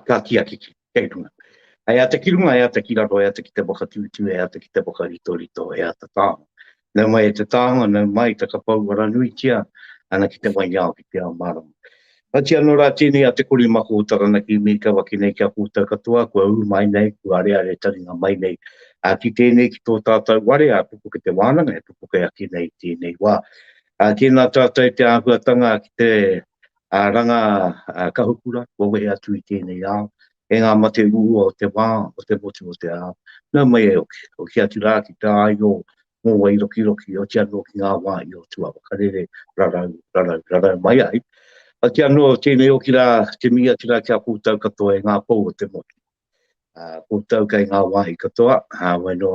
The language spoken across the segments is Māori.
Ka ki a Kiki, kei runga. E ata ki runga, e ata ki raro, e ata ki te whakatūtū, e ata ki te whakaritorito, e ata tāna. Nau mai e te tānga, nau mai ta ka pouara nuitia ana ki te waiao, ki te ao mārama. Mati ano ra tenei a Te Koremako o Taranaki me kia waki nei kia koutou katoa kua u mai nei, kua areare taringa mai nei ki tenei ki to tatou ware a pupuke te wananga e pupuke ake nei i tenei wa. Tena tatou te ahuatanga ki te ranga kahukura kua wehe atu i tenei ao, e nga mate uua o te wa, o te motu o te ao, nau mai e oki, oki atu ra ki te aio mō Wairokiroki, oti anō ki ngā wā i o Tūāwa Karere, rarau, rarau, rarau mai ai. Oti anō tēnei oki rā, te mihi atu rā ki a koutou katoa e ngā pou o te motu. Uh, koutou kei ngā wāhi katoa, uh, wai nō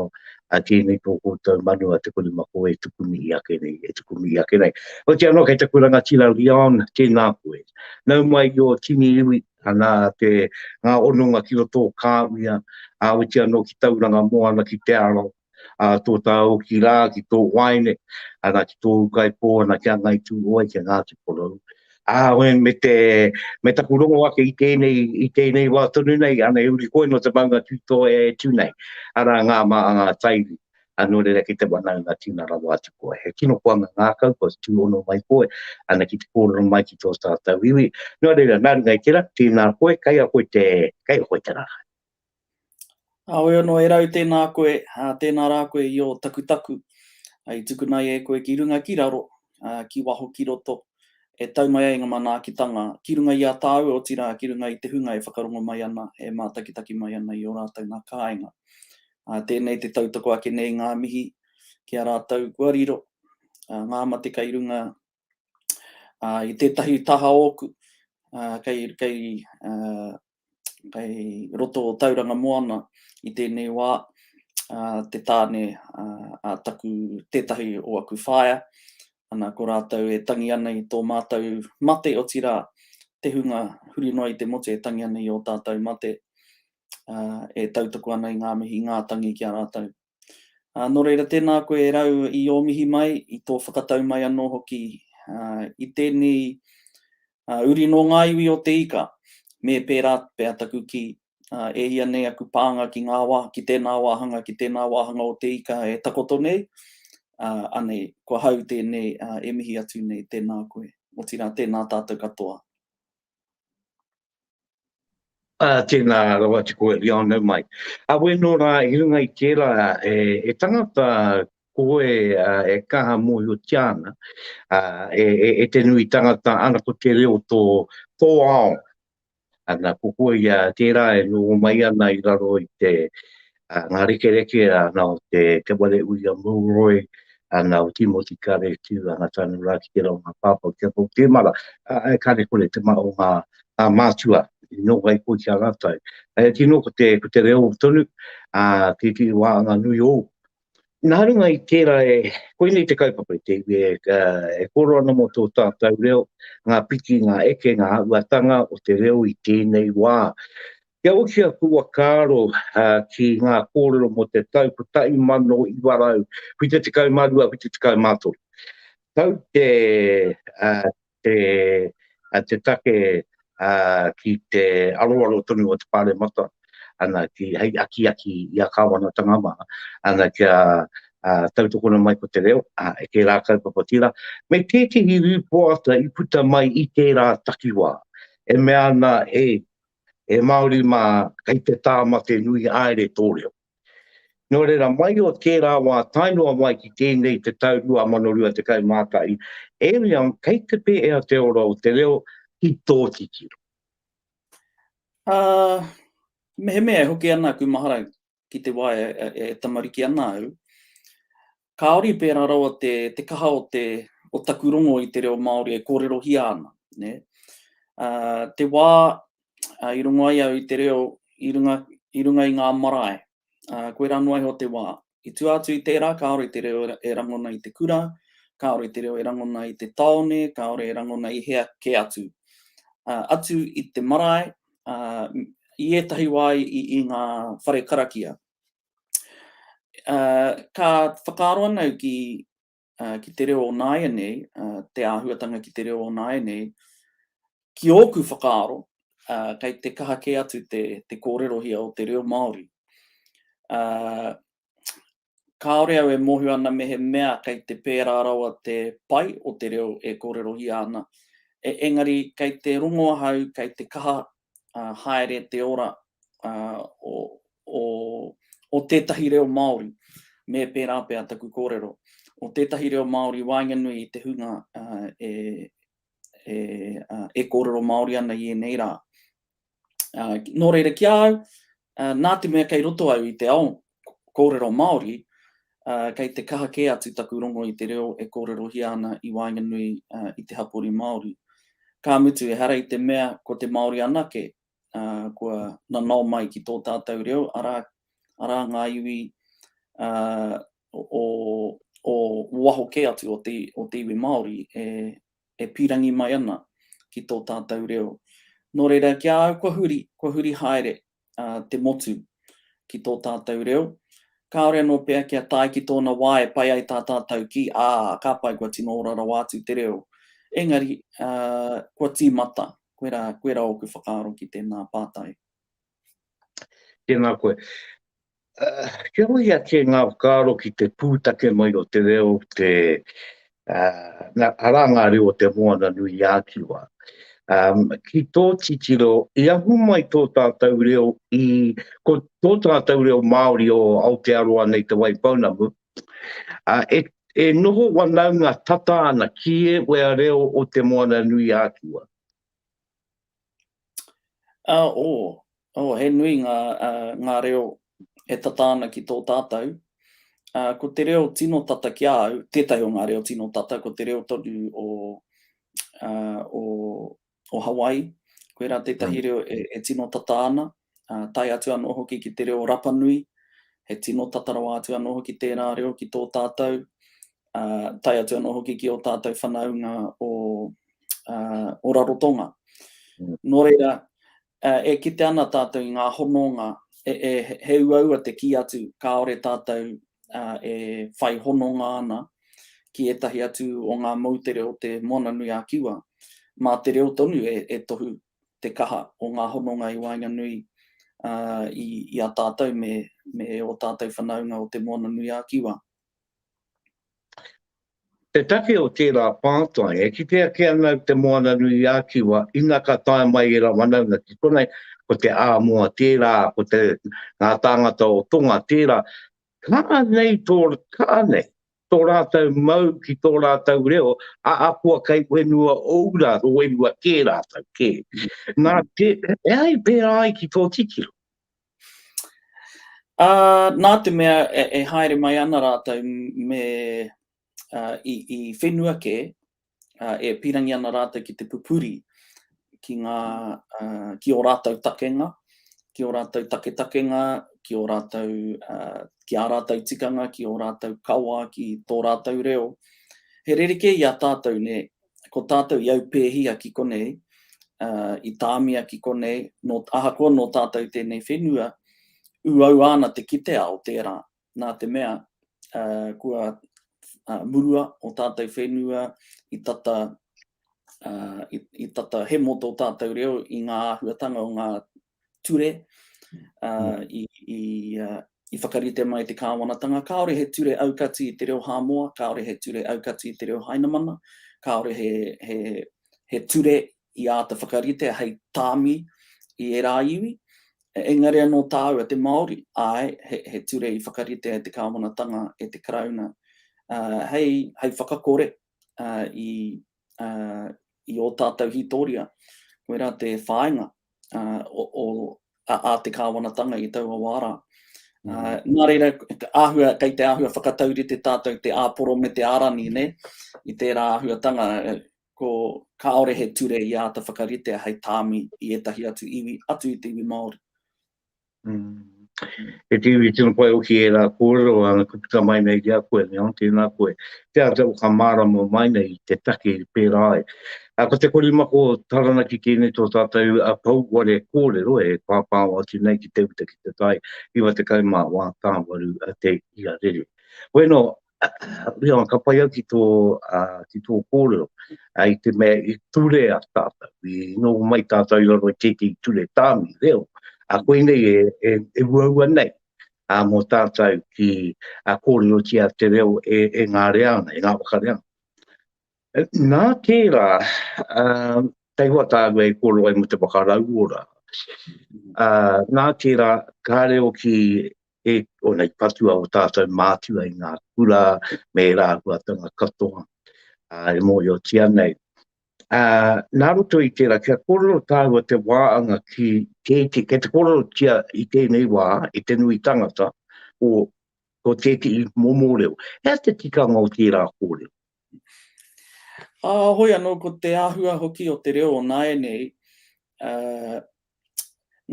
a tēnei tō koutou manu a te kurumako e tuku mihi ake nei, e tuku mihi ake nei. Oti anō kei te kuranga tira Leon, tēnā koe. Nau mai i o tini iwi, ana te ngā ononga ki roto o kāwia, a oti anō ki tauranga moana ki te aro, a tō tāoki rā ki tō waene, ana ki tōu kaipō, ana ki a Ngai Tūhoe, ki a Ngāti Porou. Ā, me, me, te, me taku rongo ake i tēnei, i tēnei wā tonu nei, ana e uri koe no te maunga tūtoa e tū nei, arā ngā mā a ngā taiwi, a nō reira ki te wanaunga tīna rawa atu koe. He tino koanga ngākau, kua tū ono mai koe, ana ki te kōrero mai ki tō tātou iwi. Nō reira, nā runga i tērā, tēnā koe, kei a koe te, kei a koe te rā. Heoi anō, e rau tēnā koe, tēnā rā koe i ō takutaku, i tukuna ai e koe ki runga ki raro, ki waho ki roto, e tau mai ai ngā manaakitanga ki runga i a tāua, otirā, ki runga i te hunga e whakarongo mai ana, e mātakitaki mai ana i ō rātou ngā kāinga. Tēnei te tautoko ake nei ngā mihi ki a rātou kua riro, ngā mate kei runga ā, i tētahi taha ōku, ā, kei, kei, ā, kei roto o Tauranga Moana i tēnei wā, ā, te tāne ā, a taku, tētahi o aku whaea, ana, ko rātou e tangi ana i tō mātou mate, otirā, te hunga huri noa i te motu e tangi ana i ō tātou mate, ā, e tautoko ana i ngā mihi ngātangi ki a rātou. Ā, nō reira, tēnā koe e rau i ō mihi mai, i tō whakatau mai anō hoki, ā, i tēnei, ā, uri nō ngā iwi o te ika, me pērā pea taku kī, ā, e ia nei aku pānga ki ngā wā, ki tēnā wāhanga, ki tēnā wāhanga o te ika e takoto nei, ā, anei, ko hau tēnei, ā, e mihi atu nei, tēnā koe, otirā, tēnā tātou katoa. Ā, tēnā rawa atu koe i ao nau mai. Ā, wē nō rā, i runga i tērā, e, e tangata, koe, ā, e kaha mōhiotia ana, ā, e, e, e te nui tangata, ana ko te reo tō, tō ao. Ana, ko koe ia, tērā e noho mai ana i raro i te, a ngā rekereke ana o te Te Ware Uia Milroy, ana o Timoti Kare Tiu, ana tanu rā ki te reo ngā pāpā o Te Apo Temara, e kare kore te maha o ngā mātua i noho ai koe ki a rātou. E tino ko te, ko te reo tonu, a, ki te wā anga nui ou. Nā runga i tērā e, koinei te kaupapa i te iwi e, e kōrero ana mō tō tātou reo, ngā piki, ngā eke, ngā āhuatanga o te reo i tēnei wā. Kia oti aku whakaaro ki ngā kōrero mō te tau 1972, 73. Tau te take ki te aroaro tonu o te Pāremata hei akiaki i a Kāwanatanga mā kia tautokona mai ko te reo e tērā kaupapa tira, me tētehi rīpoata i puta mai i tērā takiwā e mea ana e e Māori mā, kei te tāmake nui haere tō reo. Nō reira, mai o tērā wā tae noa mai ki tēnei te tau 2021, e mea kei te pēhea te ora o te reo ki tō titiro? Ā, mehemea e hoki ana aku maharau, ki te wā e tamariki ana au, kāore i pērā rawa te kaha o taku rongo i te reo Māori e kōrerohia ana. Te wā i rongo ai au i te reo i runga i ngā marae, koirā noa iho te wā. I tua atu i tērā, kāore te reo e rangona i te kura, kāore te reo e rangona i te tāone, kāore e rangona i hea kē atu. Atu i te marae, i ētahi wā i ngā whare karakia. Ka whakaaro ana au ki te reo o nāianei, te āhuatanga ki te reo o nāianei, ki ōku whakaaro, kei te kaha kē atu te kōrerohia o te reo Māori. kāore au e mōhio ana mehemea kei te pērā rawa te pai o te reo e kōrerohia ana, engari kei te rongo ahau kei te kaha haere te ora o tētahi reo Māori, me pērā pea taku kōrero, o tētahi reo Māori i waenganui i te hunga e kōrero Māori ana i ēnei rā. Uh, nō reira ki a au, uh, nā te mea kei roto au i te ao kōrero Māori, uh, kei te kaha kē atu taku rongo i te reo e kōrerohia ana i waenganui uh, i te hapori Māori. Ka mutu, ehara i te mea ko te Māori anake uh, kua nanao mai ki tō tātou reo, arā, arā ngā iwi uh, o, o waho kē atu o te, o te iwi Māori e, e pīrangi mai ana ki tō tātou reo. Nō reira, ki a au kua huri, kua huri haere te motu ki tō tātou reo, kāore anō pea kia tae ki tōna wā e pai ai tā tātou ki, ā, ka pai kua tino ora rawa atu te reo. Engari, kua tīmata, koirā, koirā ōku whakaaro ki tēnā pātai. Tēnā koe. Kia hui ake ngā whakaaro ki te pūtake mai o te reo, te, arā ngā reo o te moana nui i ākiwa. Ki tō titiro, i ahu mai tō tātou reo i, ko tō tātou reo Māori o Aotearoa nei Te Waipounamu, e, e noho wanaunga tata ana ki e wea reo o te moana nui i ākiwa. Ā, ō, ō, he nui ngā, ā, ngā reo e tata ana ki tō tātou. Ā, ko te reo tino tata ki a au, tētahi o ngā reo tino tata, ko te reo tonu o, ā, o, o Hawaii. Koirā tētahi reo e, e tino tata ana. tae atu anō hoki ki te reo Rapanui, he tino tata rawa atu anō hoki tērā reo ki tō tātou, ā, tae atu anō hoki ki ō tātou whanaunga o, ā, o Rarotonga. Mm. Nō reira, ā, e kite ana tātou i ngā hononga, e, e, he uaua te kī atu, kāore tātou ā, e whai hononga ana ki ētahi atu o ngā moutere o te Moana Nui a Kiwa, mā te reo tonu e, e tohu te kaha o ngā hononga i waenganui i a tātou me ō tātou whanaunga o Te Moana-nui-a-Kiwa. Te take o tērā pātai, e kite ake ana Te Moana-nui-a-Kiwa ina ka tae mai ērā whanaunga ki konei, ko te āmoa tērā, ko ngā tāngata o Tonga tērā, kaha nei tō, kaha nei, tō rātou mau ki tō rātou reo, a akoa kei whenua ou rā, ko whenua kē rātou, kē. Nā, te, e ai pērā ai ki tō titiro? Uh, nā te mea e, e haere mai ana rātou me uh, i, i whenua kē, ā, e pīrangi ana rātou ki te pupuri, ki ngā, ā, ki ō rātou takenga, ki ō rātou taketakenga, ki ō rātou, ā, ki ā rātou tikanga, ki ō rātou kawa, ki tō rātou reo. He rerekē i a tātou, nē, ko tātou i aupēhia ki konei, ā, i tāmia ki konei, nō, ahakoa nō tātou tēnei whenua, ūaua ana te kite ao tērā, nā te mea kua murua o tātou whenua i tata i tata hemo tō tātou reo i ngā āhuatanga o ngā ture uh, i, i, uh, i whakarite mai te kāwanatanga. Kāore he ture aukati i te reo Hāmoa, kāore he ture aukati i te reo Hainamana, kāore he, he, he ture i āta whakaritea hei tāmi i ērā iwi, engari anō tāua te Māori, āe, he ture i whakaritea e te kāwanatanga, e te Karauna, hei whakakore i ō tātou hītoria, koirā te whāinga a te kāwanatanga i taua wā rā. Nā reira, kei te āhua whakataurite tātou te āporo me te ārani, i tērā āhuatanga, Ko kāore he ture i āta whakaritea hei tāmi i ētahi atu iwi, atu i te iwi Māori. He te iwi tino pai hoki ērā kōrero, ā, ko tika mai nei ki a koe, me ante nā koe, te āta whakamārama mai nei i te take pērā ai. Ā, ko te korimako o Taranaki tēnei tō tātou pouware kōrero e pāpāo atu nei ki te uta ki te tai, 91 tāwaru te ia rere. Koinō, Reo, ka pai au ki tō, ki tō kōrero, i te mea i ture a tātou, i noho mai tātou i raro i tētehi ture tāmi, reo, a koe nei e, e, e uaua nei, a mō tātou ki a kōrero tia te reo e, e ngā reana, e ngā whakareana. Nā tērā, uh, tei hoa tāua e kōrero ai mō te whakarauora, uh, nā tērā, kā reo ki e ona i patua o tātou mātua i ngā kura me e rāhuatanga katoa e mōhio tia nei. A, nā roto i tērā, kia kororo tāua te wāanga ki tēti, kia te kororo tia i tēnei wā, i te nui tangata, o, o tēti i momo reo. Hea te tikanga o tērā kōrero? Ā, hoi anō ko te āhua hoki o te reo o nāianei, ā,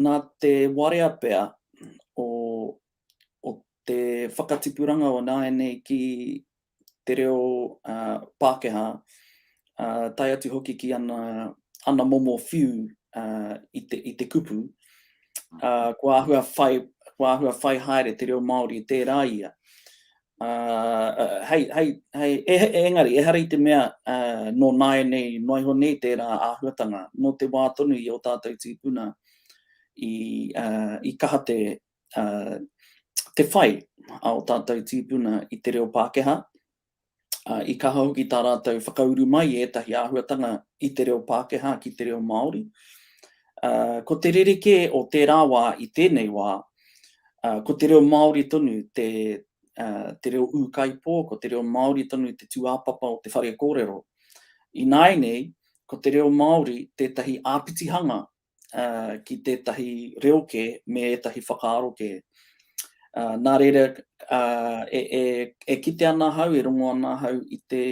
nā te warea pea o, o te whakatipuranga o nāianei ki te reo, ā, Pākehā, ā, tae atu hoki ki ana, ana momo whiu, ā, i te, i te kupu, ā, kua āhua whai, kua āhua whai haere te reo Māori, tērā ia. Ā, hei, hei, hei, e, e, engari, ehara i te mea ā, nō nāianei noa iho nei tērā āhuatanga, nō te wā tonu i ō tātou tīpuna i, ā, i kaha te, ā, te whai a ō tātou tīpuna i te reo Pākehā, ā, i kaha hoki tā rātou whakauru mai i ētahi āhuatanga i te reo Pākehā ki te reo Māori, Ā, ko te rerekē o tērā wā i tēnei wā, ā, ko te reo Māori tonu te, ā, te reo ūkaipō, ko te reo Māori tonu te tūāpapa o te whare kōrero. Ināianei, ko te reo Māori tētahi āpitihanga, ā, ki tētahi reo kē me ētahi whakaaro kē. Ā, nā reira, ā, e, e, e kite ana ahau, e rongo ana ahau i te,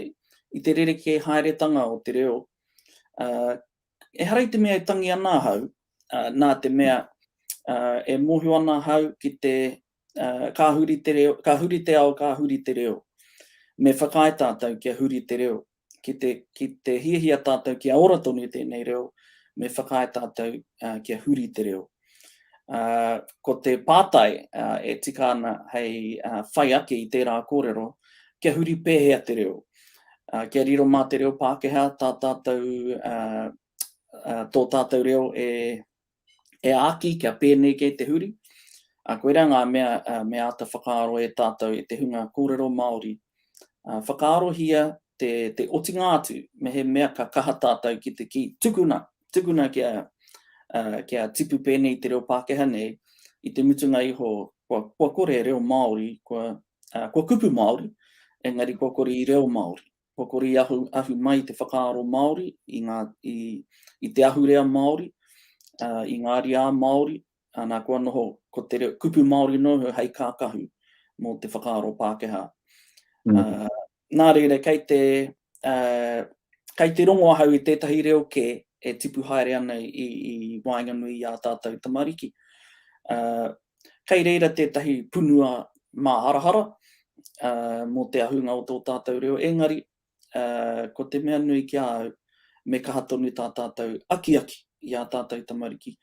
i te rerekē haeretanga o te reo, ā, Ehara i te mea e tangi ana ahau, ā, nā te mea, ā, e mōhio ana ahau ki te, ā, ka huri te reo, ka huri te ao, ka huri te reo. Me whakaae tātou kia huri te reo. Ki te, ki te hiahia tātou kia ora tonu i tēnei reo, me whakaae tātou, ā, kia huri te reo. Ko te pātai e tika ana hei whai ake i tērā kōrero, kia huri pēhea te reo? Kia riro mā te reo Pākehā tā tātou, tō tātou reo e āki kia pēnei kei te huri? Koirā ngā mea me āta whakaaro e tātou i te hunga kōrero Māori. Whakaarohia te, te otinga atu, me he mea ka kaha tātou ki te ki tukuna, tukuna kia, uh, kia tipu pēnei te reo Pākehā nei, i te mutunga iho, kua, kua kore reo Māori, kua, uh, kua kupu Māori, engari kua kore i reo Māori. Kua kore i ahu, ahu mai te whakaaro Māori, i, ngā, i, i te ahurea Māori, uh, i ngā riā Māori, ana kua noho ko te reo, kupu Māori noho hei kākahu mō te whakaaro Pākehā. Mm. Uh, Nā reira, kei te, kei te rongo ahau i tētahi reo kē e tipu haere ana i waenganui i ā tātou tamariki. Kei reira tētahi punua māharahara mō te ahunga o tō tātou reo, engari, ko te mea nui ki a au, me kaha tonu tā tātou akiaki i ā tātou tamariki,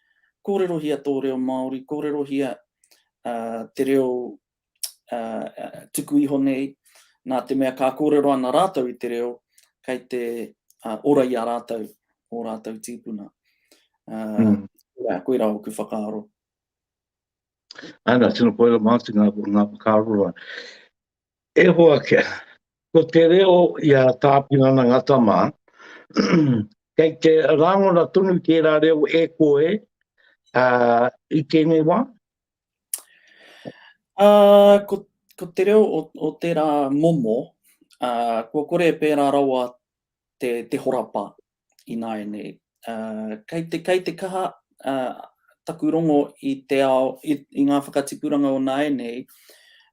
kōrerohia tō reo Māori, kōrerohia te reo tuku iho nei, nā te mea ka kōrero ana rātou i te reo, kei te ora i a rātou, o rātou tīpuna. Mm. Koirā, koirā o ku whakaaro. Ana, tino koirā mātu ngā, ngā whakaaro rā. E hoa kia, ko te reo i a tāpinana ngā tamā, kei te rāngona tonu ki ērā reo e koe uh, i tēnei wā, Uh, ko, ko te reo o, o tērā momo, uh, kua kore e pērā rawa te, te horapa i nāianei. Uh, kei, te, kei te kaha uh, taku rongo i te ao, i, i ngā whakatipuranga o nāianei,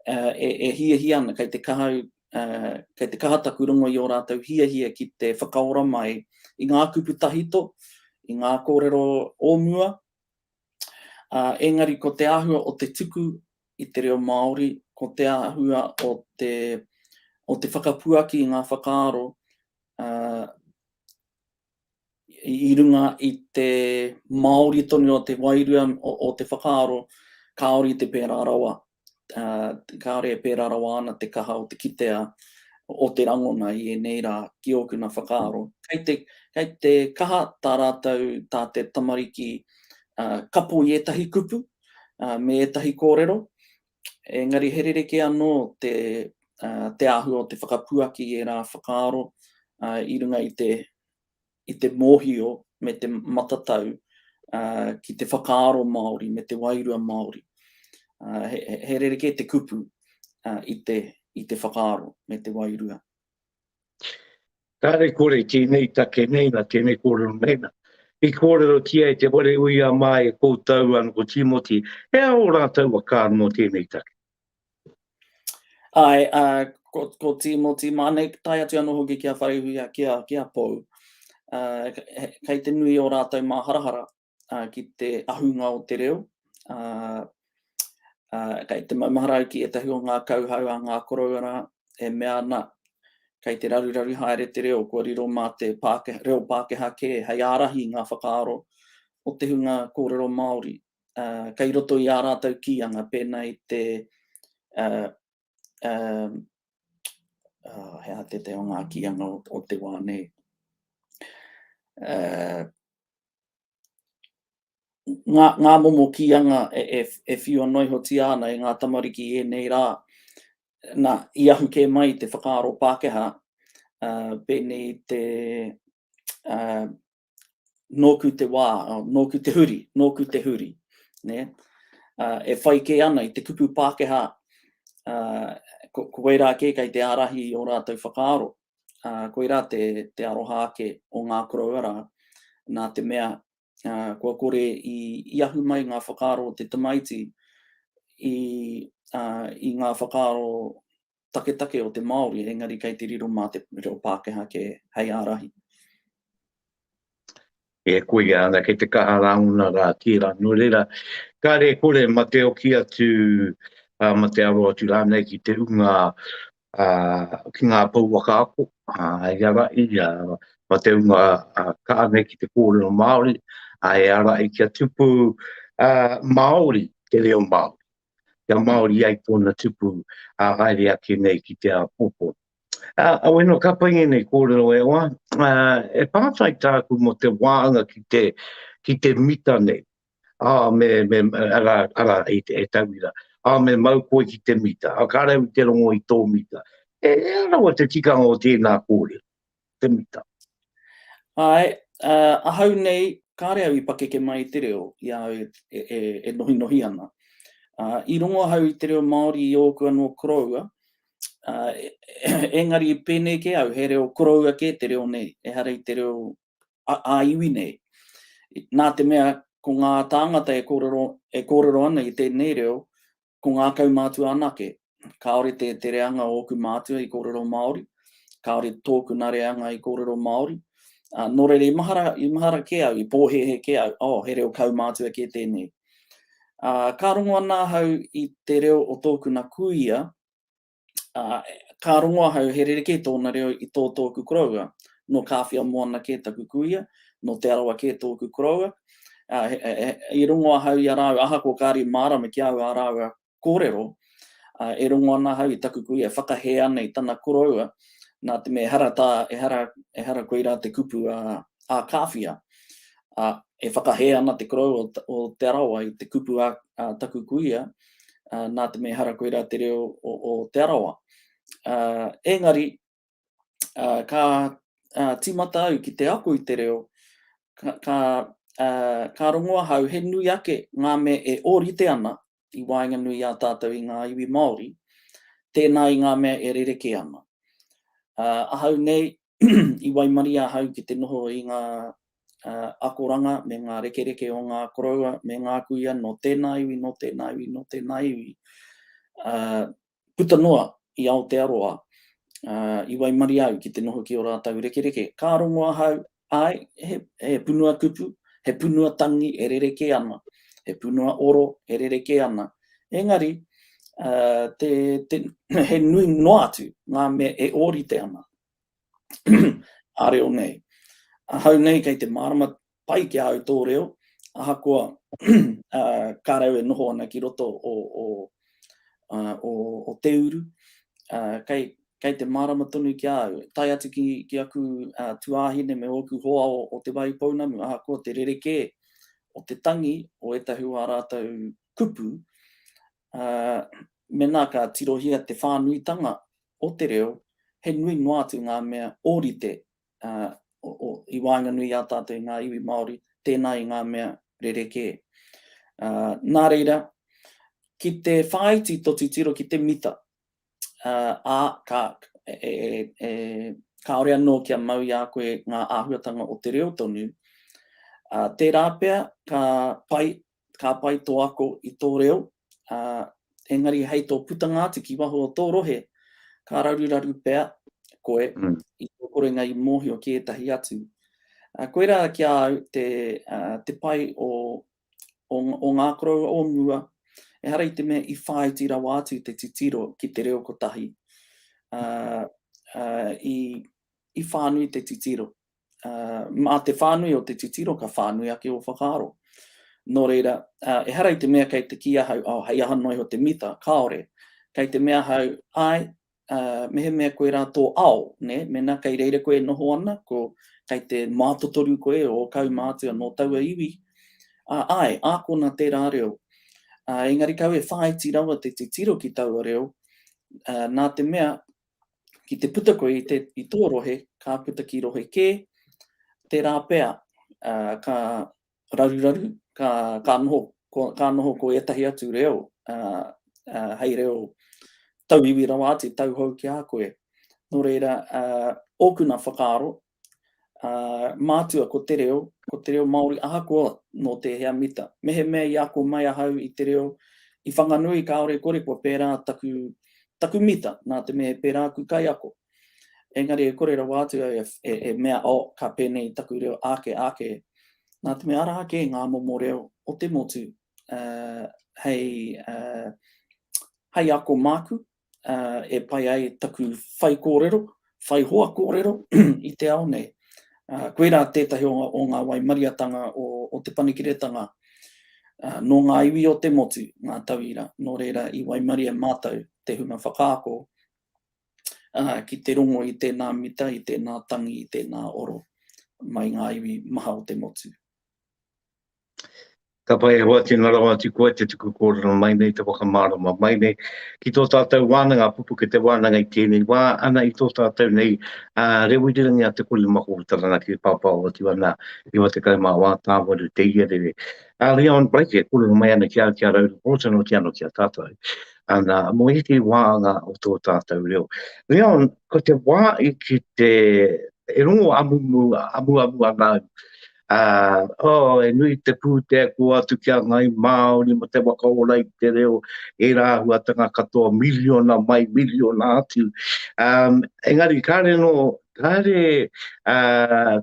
uh, e, e hiahia ana, kei te kaha uh, kei te kaha taku rongo i o rātou hiahia ki te whakaora mai i ngā kupu tahito, i ngā kōrero o mua, Ā, engari ko te āhua o te tuku i te reo Māori, ko te āhua o te, o te whakapuaki i ngā whakaaro, ā, i runga i te Māori tonu o te wairua o, o te whakaaro, kāore i te pērā rawa. kāore e pērā rawa ana te kaha o te kitea o te rangona i ēnei rā ki ōku nā whakaaro. Kei te, kei te kaha tā rātou, tā te tamariki uh, kapo i ētahi kupu, uh, me ētahi kōrero, engari he rereke anō te, uh, te āhua o te whakapuaki i ērā whakaaro uh, i runga i te i te mōhio me te matatau ki te whakaaro Māori me te wairua Māori. He rerekē te kupu i te whakaaro me te wairua. Kāre kore tēnei take nei na tēnei kōrero nei na. I kōrero tia e te ware ui a māi e koutou ana ko Timoti, he aho rātou a kāre mō tēnei take. Ae, a, ko, ko Timoti, māne tae atu anō hoki ki a Wharehuia, ki a, ki a Pou. A, kei te nui o rātou māharahara a, ki te ahunga o te reo. A, a, kei te maumahara au ki ētahi o ngā kauhau a ngā koroua e mea ana, kei te raruraru haere te reo, kua riro mā te Pākehā, reo Pākehā kē hei ārahi i ngā whakaaro o te hunga kōrero Māori uh, kei roto i ā rātou kīanga, pēnā i te uh, uh, uh, he a te te o ngā kīanga o, o te wā nei. Uh, ngā, ngā momo kīanga e, e, e whiua noihotia ana e ngā tamariki e nei rā, na, i ahu kē mai te whakaaro Pākehā, uh, pēnei te, uh, nōku te wā, nōku te huri, nōku te huri. Ne? Uh, e whai kē ana i te kupu Pākehā, uh, ko, ko wei rā kē kei te ārahi o rātou whakaaro, uh, koi rā te, te aroha ake o ngā koroua rā, nā te mea uh, kua kore i, i ahu mai ngā whakaaro o te tamaiti i, uh, i ngā whakaaro taketake o te Māori engari kei te riro mā te reo Pākehā kē hei ārahi. E koia ana kei te kaha rāngona rā tērā nō reira kare kore ma te oki atu uh, ma te aro atu rānei ki te unga uh, ki ngā pouwaka ako uh, i ara i uh, ma te unga uh, kāne ki te kōrero Māori uh, e ara i kia tupu uh, Māori te reo Māori kia Māori ai tōna tupu ā haere ake nei ki te āpōpō. Ā, aweno ka pai ngēnei kōrero e hoa, ā, e pātai tāku mō te wāanga ki te, ki te mita nei. Ā, me, me, arā, arā, e, e tauira, ā, me mau koe ki te mita, ā, ka rau i te rongo i tō mita. E, e rawa te tikanga o tēnā kōrero. te mita. Āe, ā, ahau nei, kāre au i pakeke mai i te reo i a au e nohinohi ana. Ā, i rongo ahau i te reo Māori i ōku anō koroua, ā, engari i pēnei kē au, he reo koroua kē te reo nei, ehara i te reo ā-iwi nei. Nā te mea, ko ngā tāngata e kōrero, e kōrero ana i tēnei reo, Ko ngā kaumātua anake. Kāore te, te reanga o ōku mātua i kōrero Māori, kāore tōku nā reanga i kōrero Māori. Ā, nō reira, i mahara, i mahara kē au, i pōhēhē kē au, oh, he reo kaumātua kē tēnei. Ā, ka rongo ana ahau i te reo o tōku nā kuia, Ka rongo ahau he rerekē tōna reo i tō tōku koroua. Nō Kāwhia Moana kē taku kuia, nō Te Arawa kē tōku koroua. I rongo ahau i a rāua ahakoa kāre mārama ki a au ā rāua kōrero, e rongo ana ahau i taku kuia e whakahē ana i tana koroua, nā te mea ehara tā, ehara, ehara koirā te kupu a Kāwhia. E whakahē ana te koroua o Te Arawa i te kupu a taku kuia. nā te mea ehara koirā te reo o Te Arawa. Engari, ka tīmata au ki te ako i te reo, ka rongo ahau he nui ake ngā mea e ōrite ana i waenganui i a tātou i ngā iwi Māori, tēnā i ngā mea e rerekē ana. Ahau nei, i waimarie ahau ki te noho i ngā akoranga me ngā rekereke o ngā koroua me ngā kuia nō tēnā iwi, nō tēnā iwi, nō tēnā iwi. Puta noa i Aotearoa, i waimarie au ki te noho ki ō rātou rekereke. Ka rongo ahau, āe, he punua kupu, he punua tangi e rerekē ana, he punua oro e rerekē ana. Engari, he nui noa atu ngā mea e ōrite ana, a reo nei. Ahau nei kei te mārama pai ki a au tō reo, ahakoa kā rau e noho ana ki roto o, o, o, o te uru, kei, kei te mārama tonu ki a au. Tai atu ki, ki aku uh, tuāhine me ōku hoa o, o te wai pounamu, ahakoa te rerekē o te tangi o ētahi wā rātou kupu, Ā, mēnā ka tirohia te whānuitanga o te reo, he nui noa atu ngā mea ōrite, ā, i waenganui i a tātou i ngā iwi Māori, tēnā i ngā mea rerekē. Ā, nā reira, ki te whāiti tō titiro ki te mita, ā, ā, ka, e, e, kāore anō kia mau i a koe ngā āhuatanga o te reo tonu, ā, tērā pea ka pai ka pai tō ako i tō reo, ā, engari hei tō putanga atu ki waho o tō rohe, ka raruraru pea koe i tō korenga i mōhio ki ētahi atu. Koirā ki a au te pai o ngā koroua o mua, ehara i te mea i whāiti rawa atu te titiro ki te reo kotahi, i whānui te titiro. mā te whānui o te titiro ka whānui ake ō whakaaro. Nō reira, ehara i te mea kei te kī ahau, oh, hei aha noa iho te mita, kāore. Kei te mea ahau, āe, mehemea koe rā tō ao, nē, mēnā kei reira koe e noho ana, ko, kei te mātotoru koe o ō kaumātua nō taua iwi, ā, āe, ākona tērā reo. Engari kau e whāiti rawa te titiro ki taua reo, nā te mea, Ki te puta koe i, te, i tō rohe, ka puta ki rohe kē, tērā pea uh, ka raruraru, ka, ka, noho, ko, ka noho ko ētahi atu reo, uh, uh, hei reo tauiwi rawa atu, tauhou ki a koe. Nō reira, uh, ōkuna whakaaro, ā, mātua ko te reo, ko te reo Māori ahakoa nō tēhea mita. Mehemea i ako mai ahau i te reo i Whanganui kāore kore kua pērā taku, taku mita nā te mea he pērā aku kaiako. Engari e kore rawa atu au e, e mea, oh, ka pēnei taku reo āke, āke. Nā te mea arā ake ngā momo reo o te motu, ā, hei, ā, hei ako māku, e pai ai taku whai kōrero, whai hoa kōrero i te ao nei. Koirā tētahi o ngā waimariatanga o Te Panekiretanga nō ngā iwi o te motu, ngā tauira, nō reira i waimari e mātou te hunga whakaako ki te rongo i tēnā mita, i tēnā tangi, i tēnā oro mai ngā iwi maha o te motu. Ka pai e hoa tēnā rawa atu koe te tuku kōrero mai nei, te whakamārama mai nei ki tō tātou wānanga pupuke te wānanga i tēnei wā, ana i tō tātou nei a Rewirangi a Te Korimako o Taranaki e pāpao atu ana 94 tāwaru te ia rere. A Leon Blake e kōrero mai ana ki au ki a Rau Reporter nō te ano ki a tātou, ana mō ētehi wāanga o tō tātou reo. Leon, ko te wā i ki te, e rongo amumu, amuamu ana au, Ā, oh, he nui te pūtea kua atu ki a ngāi Māori mō te whakaora i te reo, ērā āhuatanga katoa, miriona mai, miriona atu. Ā, engari kāre anō, kāre, ā,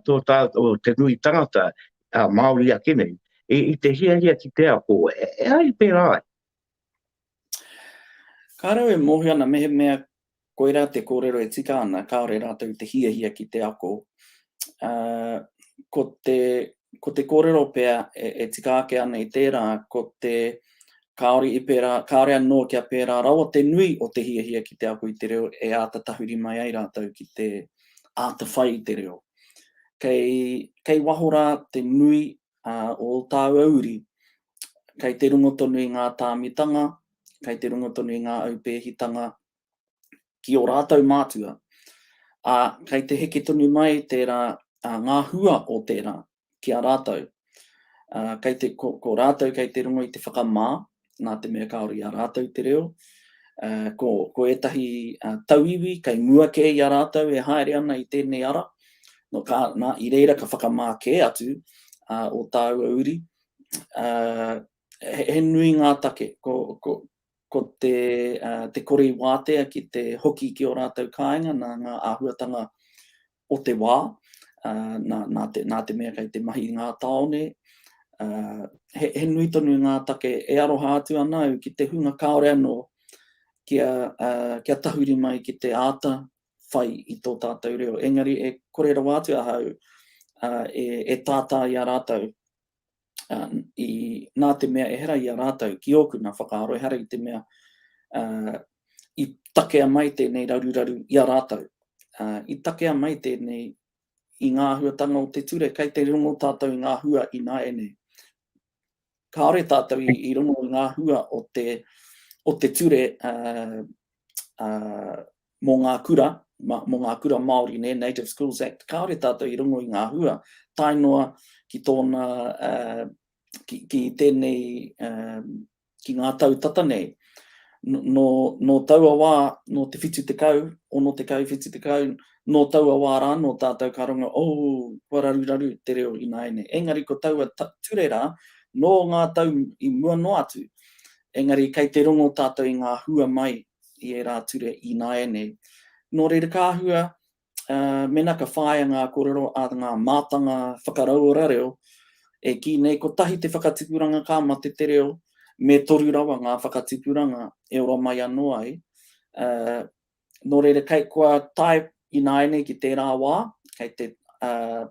tō tā, o te nui tangata, ā, Māori ake nei, i, i te hiahia ki te ako, e, e ai pērā ai? Kāre au e mōhio ana mehemea Koirā te kōrero e tika ana, kāore rātou te hiahia ki te ako. Ā, ko te, ko te kōrero pea e, e tika ake ana i tērā, ko te kāore i pērā, kāore anō kia pērā rawa te nui o te hiahia ki te ako i te reo e āta tahuri mai ai rātou ki te āta whai i te reo. Kei, kei waho rā te nui ā, o ō tāua uri, kei te rongo tonu i ngā tāmitanga, kei te runga tonu i ngā aupēhitanga ki ō rātou mātua, ā, kei te heke tonu mai tērā, ā, ngā hua o tērā ki a rātou. Ā, kei te, ko, ko rātou kei te rongo i te whakamā, nā te mea kāore i a rātou te reo, ā, ko, ko ētahi ā, tauiwi kei mua kē i a rātou e haere ana i tēnei ara, no ka, nā, i reira ka whakamā kē atu ā, ō tāua uri, ā, he nui ngā take, ko, ko, ko te, uh, te kore i wātea ki te hoki ki o rātou kāinga, nā ngā āhuatanga o te wā, uh, nā, nā, te, nā te mea kei te mahi i ngā tāone, uh, he, he nui tonu ngā take e aroha atu ana au ki te hunga kāore anō kia, uh, kia tahuri mai ki te āta whai i tō tātou reo. Engari e kore rawa atu ahau uh, e, e tātā i a rātou i, nā te mea ehara i a rātou ki ōku nā whakaaro, ehara i te mea uh, i takea mai tēnei raruraru i a rātou. Uh, I takea mai tēnei i ngā huatanga o te ture, kei te rongo tātou i ngā hua i nā ene. Kāore tātou i, i rongo i ngā hua o te, o te ture uh, uh, mō ngā kura, mō ngā kura Māori, nē, Native Schools Act, kāore tātou i rongo i ngā hua, tae noa ki tōna, ki tēnei, ki ngā tau tata nei. Nō, nō taua wā, nō te whitu tekau, ono tekau, whitu tekau, nō taua wā rānō tātou ka rongo, oh, kua raruraru te reo ināiane. Engari ko taua ture rā, nō ngā tau i mua noa atu, engari kei te rongo tātou i ngā hua mai i ērā ture ināianei. Nō reira ka hua, mēnā ka whāia ngā kōrero a ngā mātanga whakarauora reo, e kī nei kotahi te whakatipuranga ka mate te reo, me toru rawa ngā whakatipuranga e ora mai anō ai. Nō reira kei kua tae ināianei ki tērā wā, kei te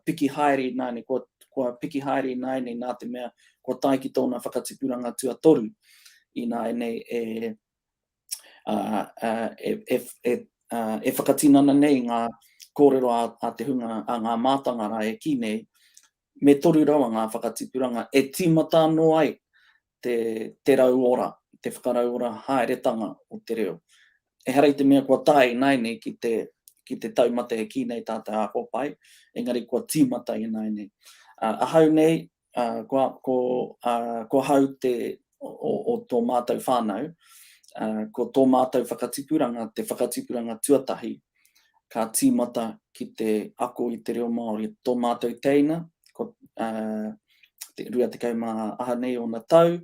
piki haere ināianei, kua piki haere ināianei nā te mea kua tae ki tōna whakatipuranga tuatoru ināianei e e whakatinana nei ngā kōrero a te hunga, a ngā mātanga rā e kī nei, me toru rawa ngā whakatipuranga e tīmata anō ai te rauora, te whakarauora haeretanga o te reo. Ehara i te mea kua tae ināianei ki te ki te taumata e kī nei tā te ākopae, engari kua tīmata ināianei. Ahau nei, ā, ko, ko, ā, ko hau te, o, o tō mātou whānau, ā, ko tō mātou whakatipuranga te whakatipuranga tuatahi ka tīmata ki te ako i te reo Māori. Tō mātou teina, ko, ā, 28 ōna tau,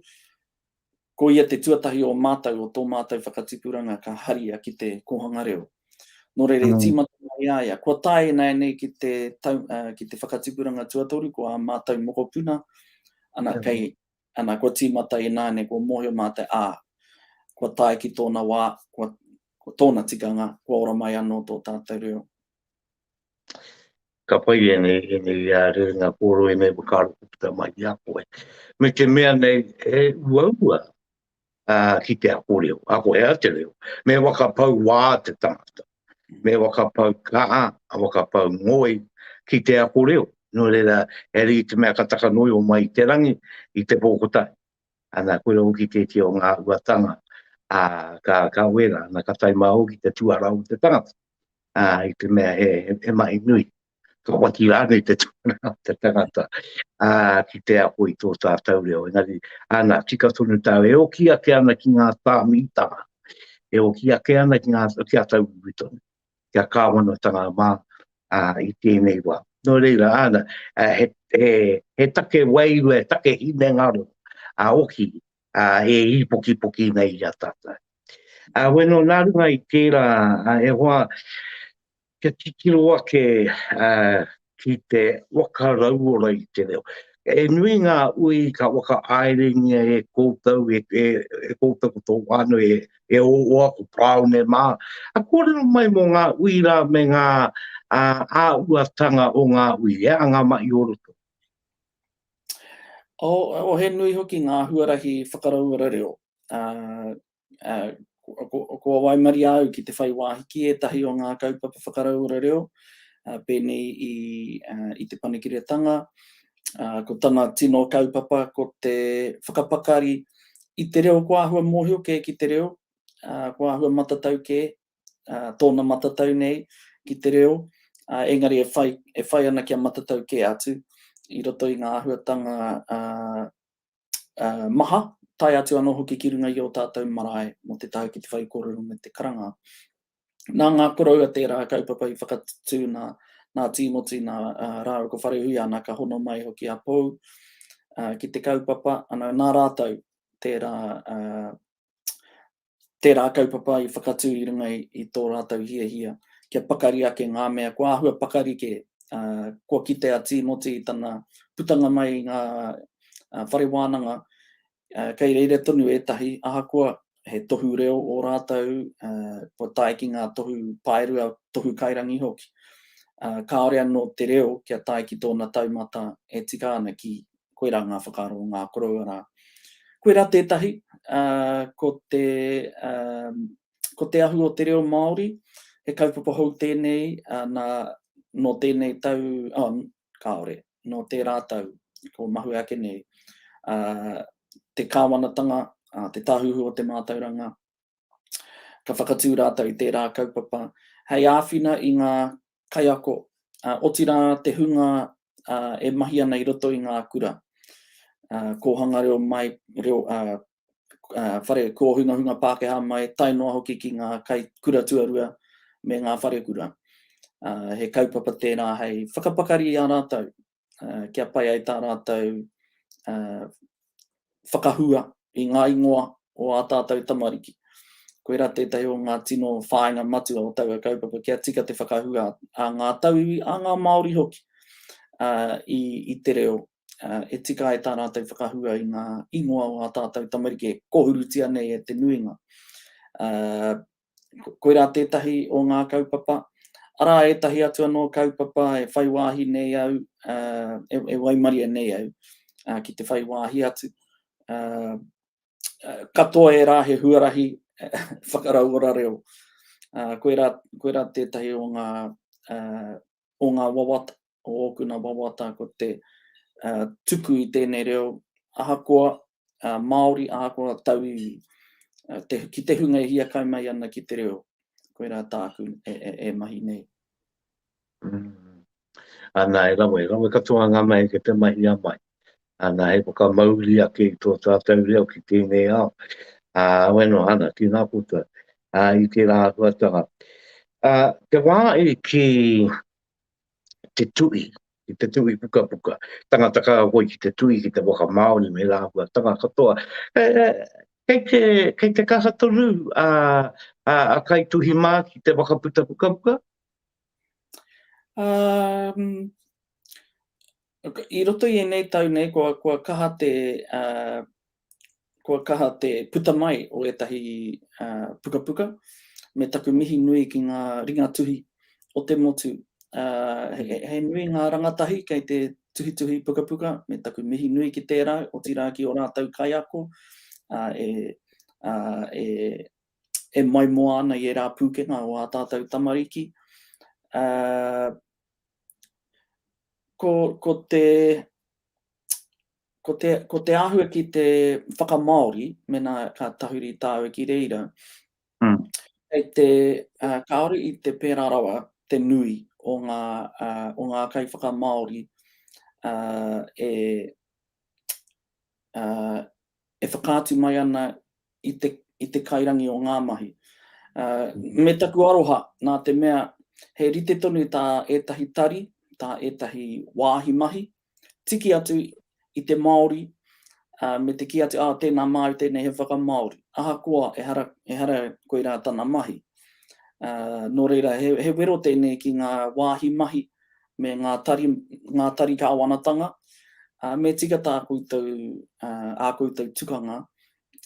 Ko ia te tuatahi o mātou o tō mātou whakatipuranga ka haria ki te kōhanga reo. Nō reira e tīmata mai i a ia, kua tae ināianei ki te tau, uh, ki te whakatipuranga tuatoru, ko ā mātou mokopuna, ana kei, ana kua tīmata ināianei, kua mōhio mātou, ā, kua tae ki tōna wā, kua, kua tōna tikanga, kua ora mai anō tō tātou reo. Ka pai ēnei, ēnei uh, rerenga kōrero, ēnei whakaaro ko puta mai i a koe. Me te mea nei, he uaua uh, ki te ako reo, ako hea te reo. Me whakapau wā te tangata, me whakapau kaha, a whakapau ngoi ki te ako reo. No reira, e rei te mea ka takanoi o mai te rangi i te pōkotai. Ana, koira hoki tētia o ngā huatanga ā, ka, ka wera, ana, ka tae māu ki te tuarau o te tangata, ā, i te mea he, he mahi nui. Ka whati rānei te tuarau o te tangata ā, ki te ako i tō tātou reo. Engari, ana, tika tonu tāu, e oki ake ana ki ngā tāmitanga, e oki ake ana ki ngā, ki a tau iwi tonu. kia kāwanatanga mā i tēnei wā. Nō reira, āna, he take wairua, he take hinengaro a Oki e īpokipoki nei i a tātou. Ā, wē nō nā runga i tērā, e hoa, kia titiro ake ki te waka rauora i te reo. E nui ngā ui ka waka aerengia e koutou, e, e, e koutou ko tō wāno e, e o oa ko Praone mā. A kōrero mai mō ngā ui rā me ngā a, a uatanga o ngā ui, e a ngā mai o roto. O, o he nui hoki ngā huarahi whakarauora reo. A, kua waimaria au ki te whai wāhi ki ētahi o ngā kaupapa whakarauora reo, pēnei i, i te panekiretanga, ko tana tino kaupapa ko te whakapakari i te reo kua āhua mōhio kē ki te reo, kua āhua matatau kē, tōna matatau nei ki te reo, engari e whai, e whai ana kia matatau kē atu i roto i ngā āhuatanga maha, tae atu anō hoki ki runga i ō tātou marae mō te tae ki te whaikōrero me te karanga. Nā ngā koroua tērā kaupapa i whakatū nā Tīmoti, nā rāua ko Wharehui ana ka hono mai hoki a Pou ki te kaupapa, ana nā rātou tērā tērā kaupapa i whakatū i runga i tō rātou hiahia kia pakari ake ngā mea kua āhua pakari kē, ā, kua kite a Tīmoti i tana putanga mai i ngā whare wānanga, ā, kei reira tonu ētahi, ahakoa he tohu reo ō rātou, ā, kua tae ki ngā tohu paerua, tohu kairangi hoki, ā, kāore anō te reo kia tae ki tōna taumata e tika ana ki koirā ngā whakaaro o ngā koroua rā. Koirā tētahi, ko te, ko te ahu o te reo Māori, he kaupapa hou tēnei nā, nō tēnei tau, oh, kāore, nō tērā tau, kua mahue ake nei, te Kāwanatanga, te Tāhuhu o te Mātauranga, ka whakatū rātou i tērā kaupapa, hei āwhina i ngā kaiako, ā, otirā te hunga e mahi ana i roto i ngā kura, ā, kōhanga reo mai, reo, ā, ā, whare kōhungahunga Pākehā mai, tae noa hoki ki ngā kai kura tuarua me ngā wharekura. Ā, he kaupapa tērā hei whakapakari i a rātou uh, kia pai ai tā rātou uh, whakahua i ngā ingoa o ā tātou tamariki. Koira tētahi o ngā tino whāinga matua o taua kaupapa kia tika te whakahua a ngā tauiwi, a ngā Māori hoki uh, i, i te reo. Uh, e tika ai tā rātou whakahua i ngā ingoa o ā tātou tamariki e kohurutia nei e te nuinga. Uh, koirā tētahi o ngā kaupapa, arā ētahi atu anō kaupapa e whai wāhi nei au, e waimarie nei au ki te whai wāhi atu. Katoa ērā he huarahi whakarauora reo. Koirā tētahi o ngā o ngā wawata, o ōku nā wawata ko te tuku i tēnei reo ahakoa Māori, ahakoa tauiwi, ki te hunga e hiakai mai ana ki te reo, koirā tāku e mahi nei. Ana, e rawe, rawe katoa ngā mahi ki te mahi a mai. Ana he whakamauri ake i tō tātou reo ki tēnei ao, ā, awe noa ana ki ngā puta, ā, i tērā āhuatanga. Ā, te wā i kī te tuhi, ki te tuhi pukapuka, tangata ka hoi ki te tuhi ki te whakamāori me ērā āhuatanga katoa, kei te, kei te kaha tonu a, a, a kaituhi mā ki te whakaputa pukapuka? Ā, I roto i ēnei tau nei kua kaha te kua kaha te puta mai o ētahi pukapuka me taku mihi nui ki ngā ringatuhi o te motu. He nui ngā rangatahi kei te tuhituhi pukapuka me taku mihi nui ki tērā otirā ki ō rātou kaiako e maimoa ana i ērā pūkenga o ā tātou tamariki. ko, ko te, ko te, ko te āhua ki te whakamāori, mena ka tahuri tāu ki reira, mm. kei te, uh, kāore i te pērā rawa te nui o ngā, uh, o ngā kai whakamāori uh, e, uh, e whakaatu mai ana i te, i te kairangi o ngā mahi. Uh, me taku aroha, nā te mea, he rite tonu tā ētahi tari, tā ētahi wāhi mahi, tiki atu i te Māori, uh, me te ki atu, ah, tēnā Māori, tēnei he whakamāori. Ahakoa, ehara, ehara koirā tana mahi. Uh, nō reira, he, he wero tēnei ki ngā wāhi mahi, me ngā tari, ngā tari kāwanatanga, ā, me tika tā koutou, ā, ā koutou tukanga,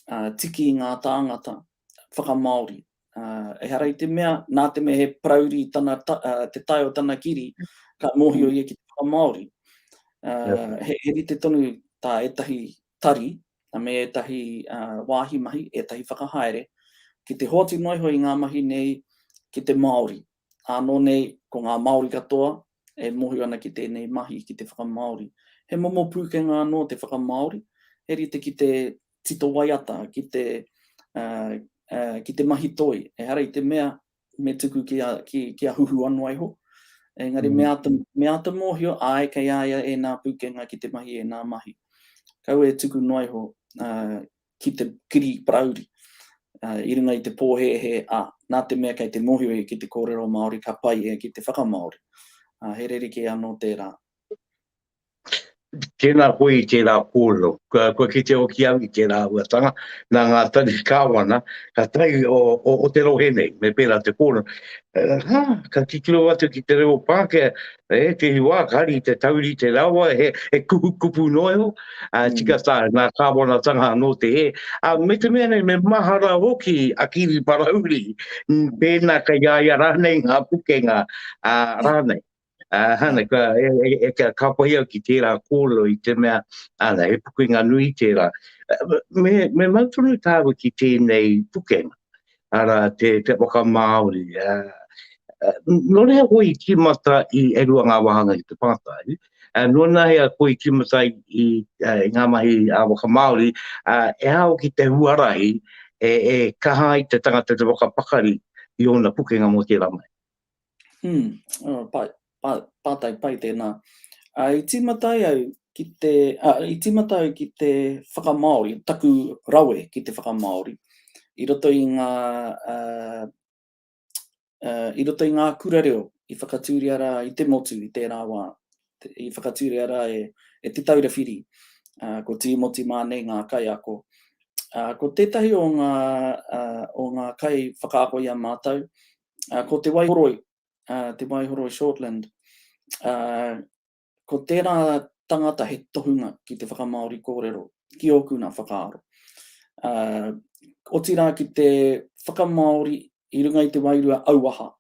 ā, tiki i ngā tāngata whakamāori. Ā, ehara i te mea, nā te mea he parauri tana, ā, te tae o tana kiri, ka mōhio ia ki te whakamāori. Ā, he, he rite tonu tā ētahi tari, me ētahi, ā, wāhi mahi, ētahi whakahaere, ki te hoatu noa iho i ngā mahi nei ki te Māori. Ānō nei, ko ngā Māori katoa e mohi ana ki tēnei mahi, ki te whakamāori. He momo pūkenga anō te whakamāori, he rite ki te tito waiata, ki te, ki te mahi toi. Ehara i te mea me tuku ki a, ki, ki a Huhu anō iho. Engari me āta, me āta mōhio, āe, kei a ia ēnā pūkenga ki te mahi ēnā mahi. Kaua e tuku noa iho ki te kiri parauri i runga i te pōhēhē, ā, nā te mea kei te mōhio ia ki te kōrero Māori ka pai ia ki te whakamāori. He rerekē anō tērā. Tēnā koe i tērā kōrero. Kua kite hoki au i tērā huatanga, nā ngā tari kāwana, ka tahi o, o, o te rohe nei, me pērā te kōrero. Hā, ka titiro atu ki te reo Pākehā, E, tēnei wā, ka hari te taurite rawa, he, he kupu kupu noa iho, a, mm. tika tā, nā kāwanatanga anō te he. A, me te mea nei, me mahara hoki a Kiri Parauri, pēnā ka iaia rānei ngā pukenga a, rānei. A, hana, ka, e, e, e, ka kāpai au ki tērā kōlo i te mea, ana, he pukenga nui tērā. Me, me mautunu tāwa ki tēnei pukenga. ara te te waka Māori. Uh, nō reira koe i tīmata i e rua ngā wāhanga ki te pātai, uh, nō nā hea koe i tīmata i, i, uh, i ngā mahi a waka Māori, uh, e hao ki te huarahi e, e kaha i te tangata te waka pakari i ōna pukenga mō tērā mai. Umm, oh, pai, pa, pātai pai tēnā. Uh, I tīmata ai au ki te, uh, i tīmata au ki te whakamaori, taku rawe ki te whakamaori, i roto i ngā, uh, uh, i roto i ngā kura reo, i whakatūria rā i te motu i tērā wā, i whakatūria rā e, e te taura whiri, uh, ko Tīmoti Mānei ngā kaiako. Uh, ko tētahi o ngā, uh, o ngā kai whakaako i a mātou, ā, ko Te Waihoroi, ā, Te Waihoroi Shortland, ā, ko tērā tangata he tohunga ki te whakamāori kōrero, ki ōku nā whakaaro. Ā, otirā ki te whakamāori i runga i te wairua auaha,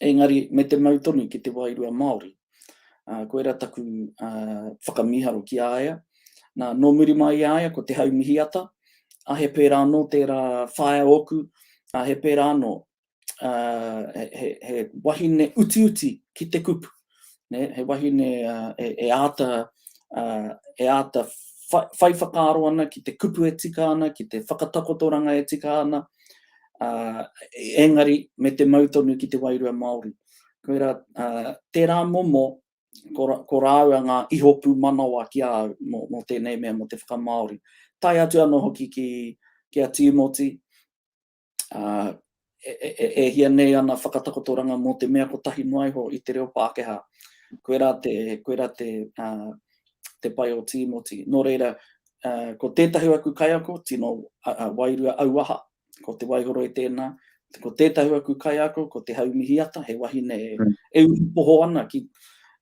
engari me te mau tonu ki te wairua Māori. Koira taku whakamiharo ki a ia. Na, no muri mai i a ia ko Te Hau Mihiata, a he pera ano tera whaea oku, a he pera ano, he wahine utiuti ki te kupu, he wahine e ata, e ata whai whakaaro ana ki te kupu e tika ana, ki te whakatakotoranga e tika ana, engari me te mau tonu ki te wairua Maori. Koirā, tērā momo, ko rāua ngā iho pūmanawa ki a au mō tēnei mea, mō te whakamāori. Tae atu anō hoki ki a Tīmoti, e hia nei ana whakatakotoranga mō te mea kotahi noa iho i te reo Pākehā. Koirā te, koirā te, te pai o Tīmoti. Nō reira, ko tētahi o aku kaiako, tino wairua auaha, Ko Te Waihoroi tēnā, ko tētahi aku kaiako, ko Te Haumihiata, he wahine e, mm. e uru poho ana ki,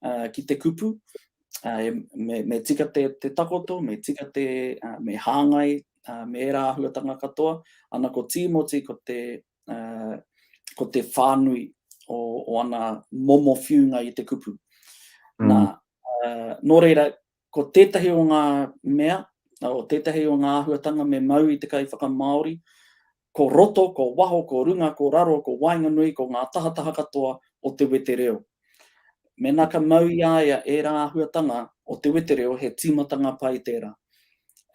uh, ki te kupu. Uh, me, me tika te, te takoto, me tika te, uh, me hāngai, uh, me e rāhuatanga katoa. Ana ko Tīmoti, ko te, uh, ko te whānui o, o ana momo whiunga i te kupu. Mm. Nā, uh, nō reira, Ko tētahi o ngā mea, o tētahi o ngā āhuatanga me mau i te kaiwhakamāori, ko roto, ko waho, ko runga, ko raro, ko waenganui, ko ngā tahataha katoa o te wetereo. Mēnā ka mau i a ia ērā āhuatanga o te wetereo he tīmatanga pai tērā.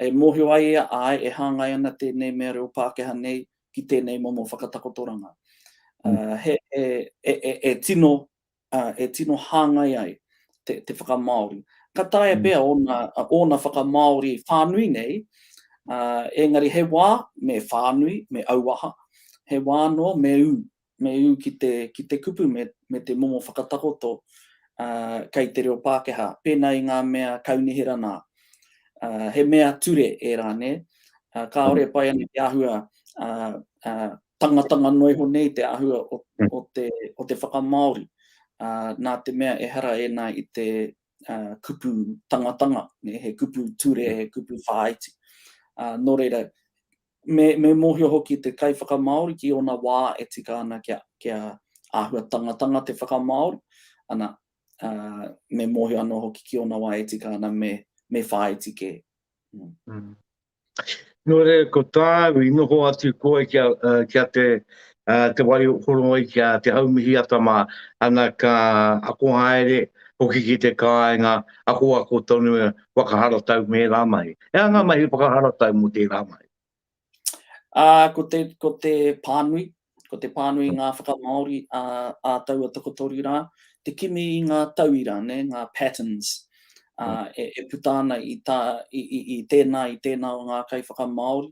E mōhio ai ia, āe, e hāngai ana tēnei mea reo Pākehā nei ki tēnei momo whakatakotoranga. He, e, e, e, e tino e tino hāngai ai te whakamāori. Ka taea pea ōna whakamāori whānui nei, engari he wā me whānui, me auaha, he wā anō me ū, me ū ki te kupu me te momo whakatakoto kei te reo Pākehā, pēnā i ngā mea kaunihera nā. He mea ture ērā, nē? Kāore e pai ana te āhua tangatanga noa iho nei te āhua o te whakamāori, nā te mea ehara ēnā i te kupu tangatanga, he kupu ture, he kupu whāiti. Nō reira, me mōhio hoki te kaiwhakamāori ki ōna wā e tika ana kia āhua tangatanga te whakamāori, ana, me mōhio anō hoki ki ōna wā e tika ana me whāiti kē. Nō reira, ko tāu i noho atu koe kia, uh, kia te, uh, te wai horongai ki a Te Haumihi Atama, ana ka ako haere hoki ki te kāinga, akoako tonu e whakaharatau me ērā mahi. E a ngā mahi whakaharatau mō tērā mahi? Uh, ko, te, ko te pānui, Ko te pānui i ngā whakamāori ā taua tokotoru rā, te kimi i ngā tauira, ngā patterns e puta ana i tā, i tēnā, i tēnā o ngā kaiwhakamāori,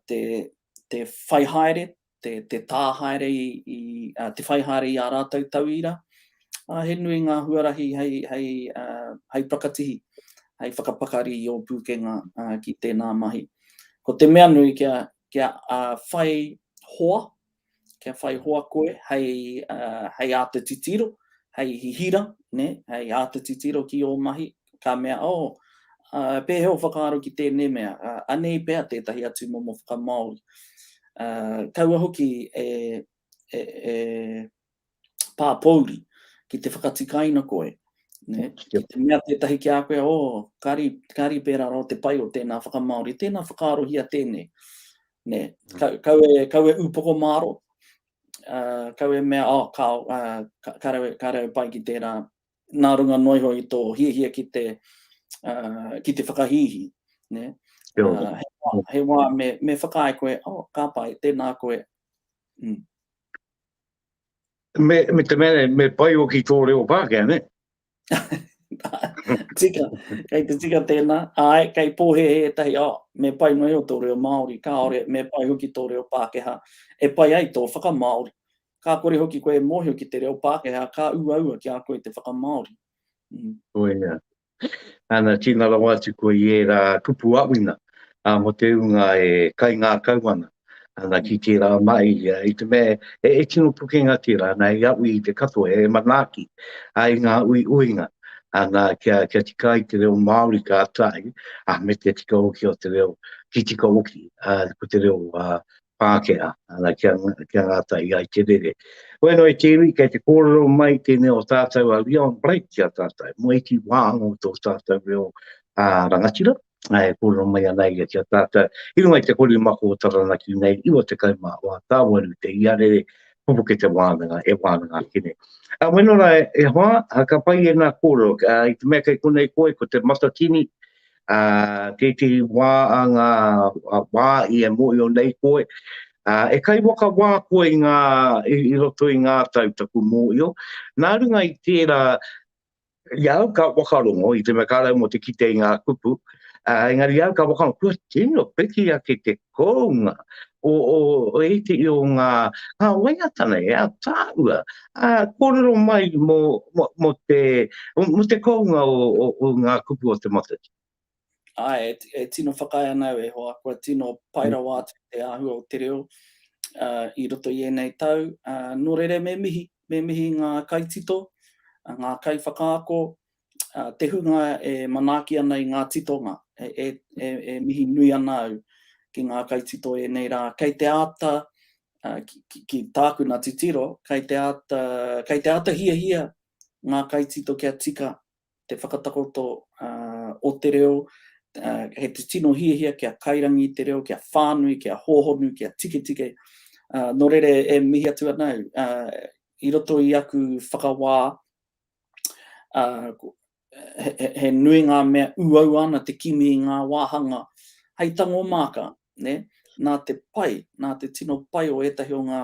te whai haere, te tā haere i, te whai haere i ā rātou tauira, ā, he nui ngā huarahi hei whakatihi, hei whakapakari i ō pūkenga ki tēnā mahi. Ko te mea nui kia, kia whai hoa, kia whai hoa koe hei āta titiro, hei hihira, hei āta titiro ki ō mahi, ka mea, oh, pēhea o whakaaro ki tēnei mea, anei pea tētahi atu momo whakamāori. Kaua hoki e pāpouri, ki te whakatikaina koe, ne? ki te mea tētahi ki a koe, o, oh, kāri, kāri pērā rā te pai o tēnā whakamāori, tēnā whakaarohia tēnei. Ne? Ka, kau, e, kau e upoko māro, uh, kau e mea, oh, ka, uh, ka, ka, rau, ka rau pai ki tērā, nā runga noiho i tō hiahia ki te, uh, ki te whakahihi. Ne? Uh, he, wā, he wā me, me whakaae koe, oh, ka pai, tēnā koe. Mm. Me, me te mea, me pai o ki tō reo Pākehā, ne? tika, kei te tika tēnā, ai, kei pōhehe e tahi, oh, me pai mai o tō reo Māori, kāore, me pai hoki tō reo Pākehā, e pai ai tō whakamāori. Kā kore hoki koe e mōhio ki te reo Pākehā, kā uaua ki a koe te whakamāori. Mm. Koe, yeah. Ana, tina rawa atu koe i era kupu awina, a, mo te unga e kaingakau ana. Ana, ki tera mai, i te mea e, e tino pukenga tera, ana, hei awi i te katoa, he manaaki, a, i nga uiuinga, ana, kia, kia tika ai te reo Maori ka tahi, a, me te tika hoki o te reo, ki tika hoki, a, ko te reo, a, Pākehā, ana kia, kia ngātahi ai te rere. Waenga i te iwi, kei te kōrero mai tēnei o tātou a Leon Blake ki a tātou, mō iti wā anō tō tātou reo ā, rangatira, ā, e kōrero mai ana ia ki a tātou. I runga i te kori mako o Taranaki nei, 91 tāwaru te iarere, pupuke te wānanga, e wānanga ake nei. Ā, weno rā e hoa, ā, ka pai ēnā kōrero, ā, i te mea kei konei koe, ko te Matatini, ā, tētehi wā a ngā wā i e mōhio nei koe, ā, e kaiwhakawā koe i ngā, i roto i ngā tau taku mōhio, nā runga i tērā, i a au ka whakarongo, i te mea ka rau mō te kite i ngā kupu, ā, engari i a au ka whakarongo, kua tino piki ake te kounga, o, o, o iti i o ngā, ngā waiatana e a tāua, a kōrero mai mō, mō, mō te, mō te kounga o, o, o ngā kupu o te matatini. Ai, e, e tino whakaae ana au e hoa, kua tino pai rawa mm. atu te āhua o te reo uh, i roto i ēnei tau. Uh, nō rere me mihi, me mihi ngā kaitito, ngā kaiwhakaako, te hunga e manaaki ana i ngā titonga, e mihi nui ana au ki ngā kaitito ēnei rā, kei te āta, ki tākuna titiro, kei te āta, kei te āta hiahia ngā kaitito kia tika te whakatakoto o te reo, he tino hiahia kia kairangi te reo, kia whānui, kia hōhonu, kia tiketike, nō reira e mihi atu ana au, i roto i aku whakawā, he nui ngā mea uaua ana te kimi i ngā wāhanga hei tango māka, nē, nā te pai, nā te tino pai o ētahi o ngā,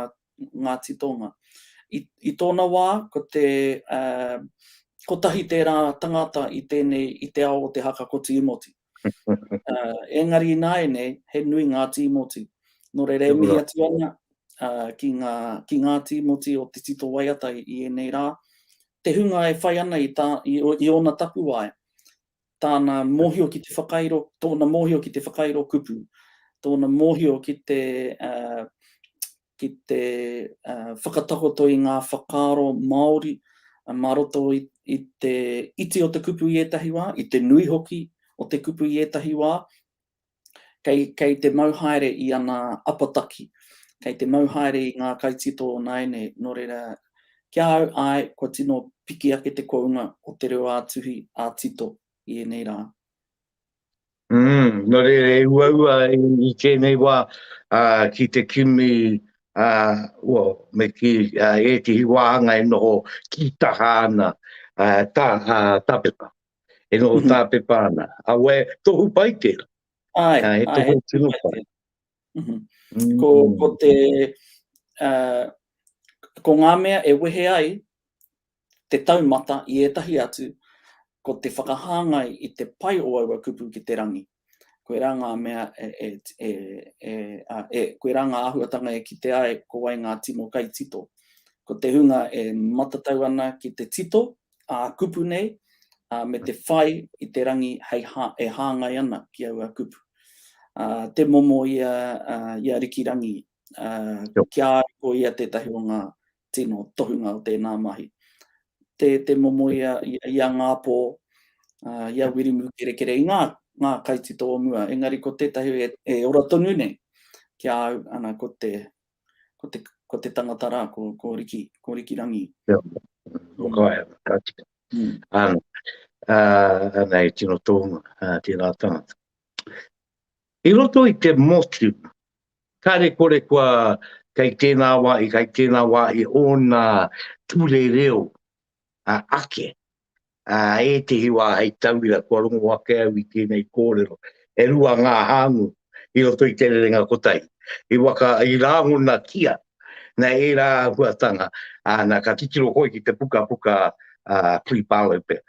ngā titonga. I, i tōna wā, ko te, uh, kotahi tērā tangata i tēnei, i te ao o te haka ko Tīmoti. uh, engari ināianei, he nui ngā tīmoti. Nō reira, e mihi atu ana uh, ki, ngā, ki ngā tīmoti o te tito waiata i, i enei rā, te hunga e whai ana i, tā, i, i ōna tapuwae, tāna mōhio ki te whakairo, tōna mōhio ki te whakairo kupu, tōna mōhio ki te, uh, ki te whakatakoto i ngā whakaaro Māori mā roto i te iti o te kupu i ētahi wā, i te nui hoki o te kupu i ētahi wā, kei, kei te mau haere i ana apataki, kei te mau haere i ngā kaitito o nāianei, nō reira, ki a au, āe, kua tino piki ake te kounga o te reo ā-tuhi, ā-tito i ēnei rā. Mm, no reira e uaua i tēnei wā uh, ki te kimi uh, well, me ki uh, e te hiwāhanga e noho ki taha ana uh, tā, uh, tāpepa. E noho mm -hmm. tāpepa ana. A we, tohu pai tēra. Ai, uh, e tohu ai, tino pai. Mm -hmm. mm. Ko, ko te... Uh, ko ngā mea e wehe ai Te taumata i ētahi atu, ko te whakahāngai i te pai o aua kupu ki te rangi. Koirā ngā mea e, koirā ngā āhuatanga e kite ai ko wai ngā tino kaitito. Ko te hunga e matatau ana ki te tito ā-kupu nei, me te whai i te rangi hei e hāngai ana ki aua kupu. Te momo i a Rikirangi, kia ko ia tētahi o ngā tino tohunga o tēnā mahi. Tē te momo i a Ngāpō, i a Wirimu Kerekere, i ngā kaitito o mua, engari ko tētahi e ora tonu nei ki a au, ana, ko te, ko te, ko te tangata rā, ko, ko Riki, ko Riki Rangi. Ia, ko Kaea, ka tika. Mm. Ana, uh, ana e tino tohunga, uh, tēnā tangata. I roto i te motu, kare kore kua kei tēnā wāhi, kei tēnā wāhi ōna ture reo ake, ā, ētehi wā hei tauira kua rongo ake au i tēnei kōrero. E rua ngā hāngū i roto i te rerenga kotahi, i waka, i rāngona kia, nā ērā āhuatanga, ā, nā, ka titiro koe ki te pukapuka a Cliff Barlow pea,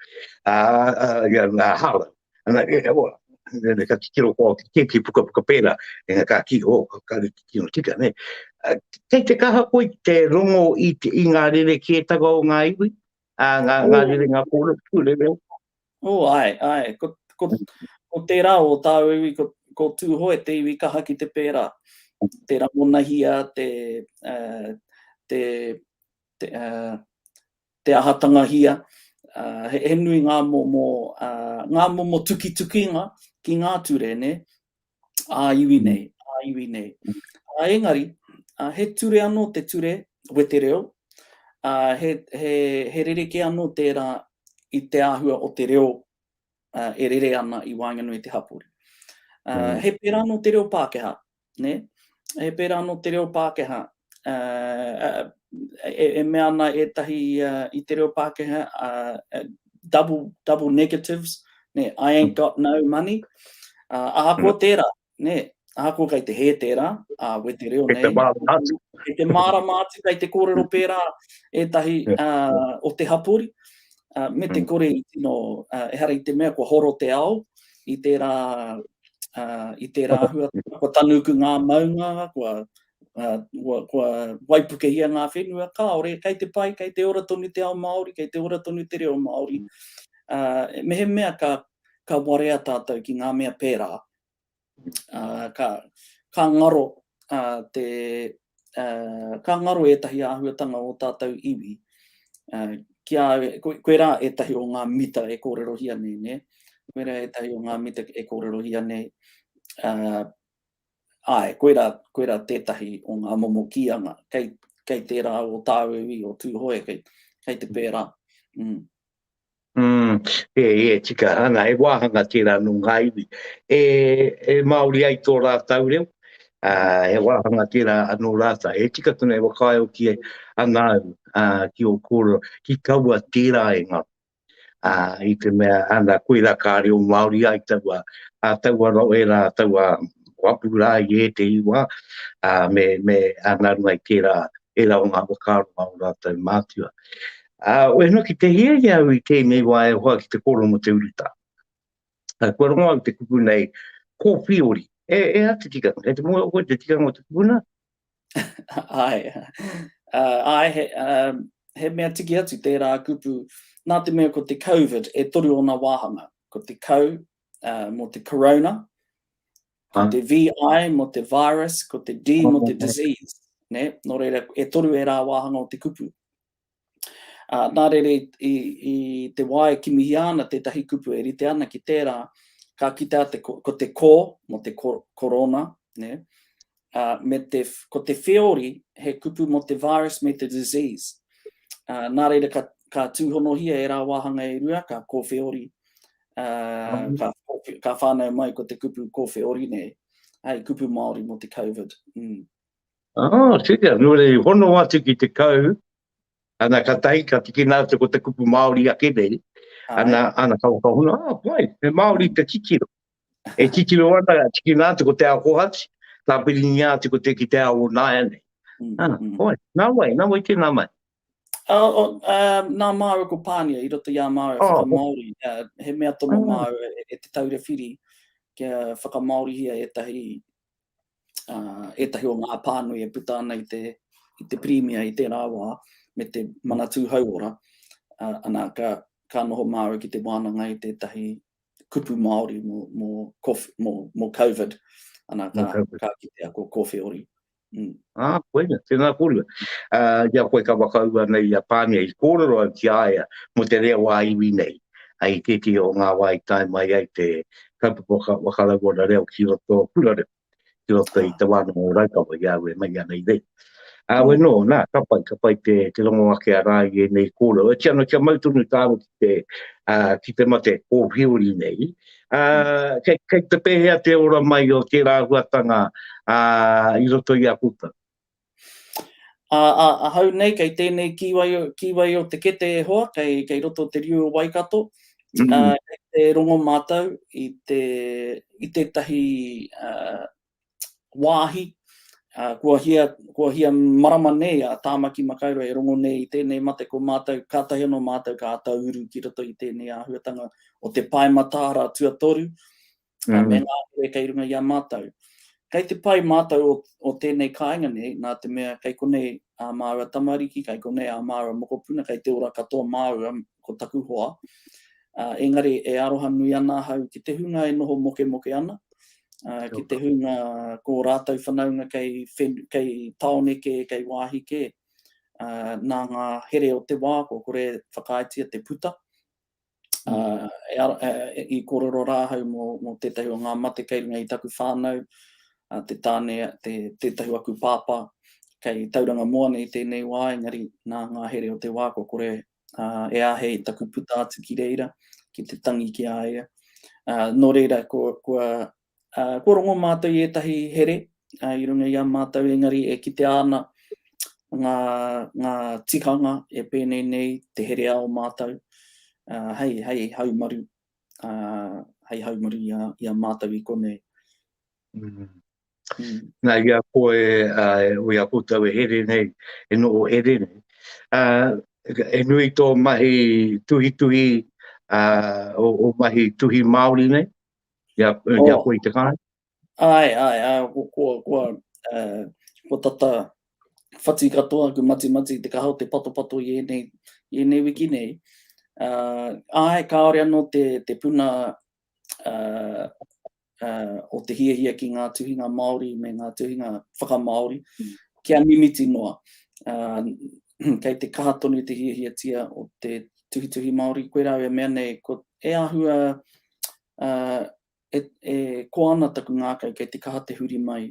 ā, ā, ia, nā, Harlow. Ana, e, e, oa, ne, ka kikiro kua o kikir ki puka puka pēra, e nga ka ki, o, ka kare kikiro tika, ne. Kei te kaha koi te rongo i, te, i ngā rere ki e taga o ngā iwi, a, ngā, ngā rere ngā kōra puku rere. O, ai, ai, ko, ko, ko tērā o tāu iwi, ko, ko Tūhoe te iwi kaha ki te pēra, te ramonahia, te, uh, te, te ahatanga hia, he nui ngā momo, ngā momo tukitukinga ki ngā ture, nē, ā iwi nei, ā iwi nei. Ā, engari, he ture anō te ture wetereo, ā, he, he, he rerekē anō tērā i te āhua o te reo e rere ana i waenganui i te hapori. He pērā anō te reo Pākehā, nē? He pērā anō te reo Pākehā, e mea ana ētahi i te reo Pākehā, double negatives, nē, I ain't got no money, ahakoa tērā, nē, ahakoa kei te hē tērā, we te reo nei. Kei te mārama atu. Kei te mārama atu, kei te kōrero pērā ētahi o te hapori, me te kore i tino, ehara i te mea kua horo te ao, i tērā, uh, i tērā hua, kua tanuku ngā maunga, kua, uh, kua, kua waipukehia ngā whenua, kāore, kei te pai, kei te ora tonu te ao Māori, kei te ora tonu te reo Māori. Uh, mehemea ka, ka warea tātou ki ngā mea pērā, ka ngaro te, ka ngaro ētahi āhuatanga o tātou iwi ki a au, koirā ētahi o ngā mita e kōrerohia nei, nē? Koirā ētahi o ngā mita e kōrerohia nei, āe, koirā, koirā tētahi o ngā momo kīanga kei, kei tērā o tāu iwi o Tūhoe, kei, kei te pērā. Mm, e, e tika hanga, e wāhanga tērā nō ngā iwi. E, e Māori ai tō rātau reo, uh, e wāhanga tērā anō rātau. E tika tuna e wakaio ki e ana au, uh, ki o kōrero, ki kaua tērā e ngā. Uh, I te mea, ana, koirā kā reo Māori ai taua, a taua ro e rā, taua wapu rā i e te iwa, uh, me, me ana rungai tērā, e rā o ngā wakaroa o rātau mātua. Ā, wehno ki te hiahia au i tēnei wā e hoa ki te kōrero mō te urutā. Ā, kua rongo au te kupu nei, Kōwhiori. E, e hā te tikanga? Kei te mōhio koe te tikanga o te kupuna? Āe, ā, āe, he, ā, he mea tiki atu tērā kupu, nā te mea ko te Covid e toru ōna wāhanga. Ko te kau, ā, mō te Korona, ko te VI mō te virus, ko te D mō te disease, nē? Nō reira, e toru ērā wāhanga o te kupu. Ā, nā reira i, i te wā e kimihia ana tētahi kupu e rite ana ki tērā, ka kitea te, ko te kō mō te korona, nē, ā, me te, ko te wheori he kupu mō te virus me te disease. Ā, nā reira ka, ka tūhonohia e rā wāhanga e rua, ka kōwheori, ā, ka, ka whānau mai ko te kupu kōwheori, nē, hei kupu Māori mō te COVID. Mm. Oh, tika, nō rei, hono atu ki te kau, ana ka tahi, ka tiki nā te ko te kupu Māori ake nei, ana, ana ka waka hono, ah, pai, me Māori te titiro. E titiro ana, ka tiki nā te ko te ao kohati, tā piri ni āti ko te ki te ao o nāia nei. Mm, ah, mm. Oi, nā wai, nā wai tēnā mai. Oh, oh, uh, nā māua ko Pānia, i roto i a māua oh, whakamāori, uh, he mea tomo oh. māua e, e te taura whiri, kia whakamāorihia e tahi uh, ētahi o ngā pānui e puta ana i te, i te pirimia i tērā wā, me te manatū hauora, uh, ana ka, ka noho māu ki te wānanga i tētahi kupu Māori mō, mō, mō, mō COVID, ana ka, COVID. ka kitea ko kōwhiori. Mm. Ah, koe na, tēnā kōrua. Uh, ia koe ka wakaua nei a Pānia i kōrero au ki aia mo te rea wā iwi nei. Ai tēti o ngā wā i tae mai ai te, kaupapa whakarauora reo ki roto o Kura Reo, ki roto i te wānanga o Raukawa, i a au e mahi ana i reira. Ā, wai nō, nā, ka pai, ka pai te, te rongo ake a rāi ēnei kōrero. Oti ana kia mau tonu tāua ki te, ā, ki te mate o Hiori nei. Ā, kei, kei te pēhea te ora mai o tērā huatanga, ā, i roto i a koutou? Ā, ā, ahau nei kei tēnei kīwai, kīwai o te kete e hoa, kei, kei roto o te riu o Waikato, ā, kei te rongo mātou i te, i tētahi, ā, wāhi, ā, kua hia, kua hia marama nei a Tāmaki Makaurau e rongo nei i tēnei mate ko mātou, kātahi anō mātou ka āta uru ki roto i tēnei āhuatanga o te Pae Mataara Tuatoru, mm. me ngā hore kei runga i a mātou. Kei te pai mātou o, o tēnei kāinga nei, nā te mea kei konei ā māua tamariki, kei konei ā māua mokopuna, kei te ora katoa māua ko taku hoa. Uh, engari e aroha nui ana ahau ki te hunga e noho moke moke ana, uh, ki te hunga ko rātou whanaunga kei, fen, kei taone ke, kei wāhi ke, uh, nā ngā here o te wā, ko kore whakaaetia te puta, i kōrero rā ahau mō tētahi o ngā mate kei runga i taku whānau, te tāne, tētahi o aku pāpā, kei Tauranga Moa nei tēnei wā, engari nā ngā here o te wā kua kore e āhei taku puta atu ki reira, ki te tangi ki a ia. Nō reira, kua Kua rongo mātou i ētahi here i runga i a mātou engari e kitea ana ngā tikanga e pēnei nei te herea o mātou hei haumaru, hei haumaru i a mātou i konei. Nā, i a koe, i a koutou e here nei, e noho here nei, e nui tō mahi tuhituhi, ō mahi tuhi Māori nei? Ki a, oh. ki a koe i te kāre? Ai, ai, ai, ko, ko, ko, uh, ko tata whati katoa aku mati mati te kaha o te pato pato i enei, i enei wiki nei. Uh, ai, kāore anō te, te puna uh, uh, o te hia hia ki ngā tuhinga Māori me ngā tuhinga whakamāori, mm. kia mimiti noa. Uh, kei te kaha tonu te hia hia tia o te tuhituhi Māori, koe rāwe mea nei, ko e ahua e koa ana taku ngākau kei te kaha te huri mai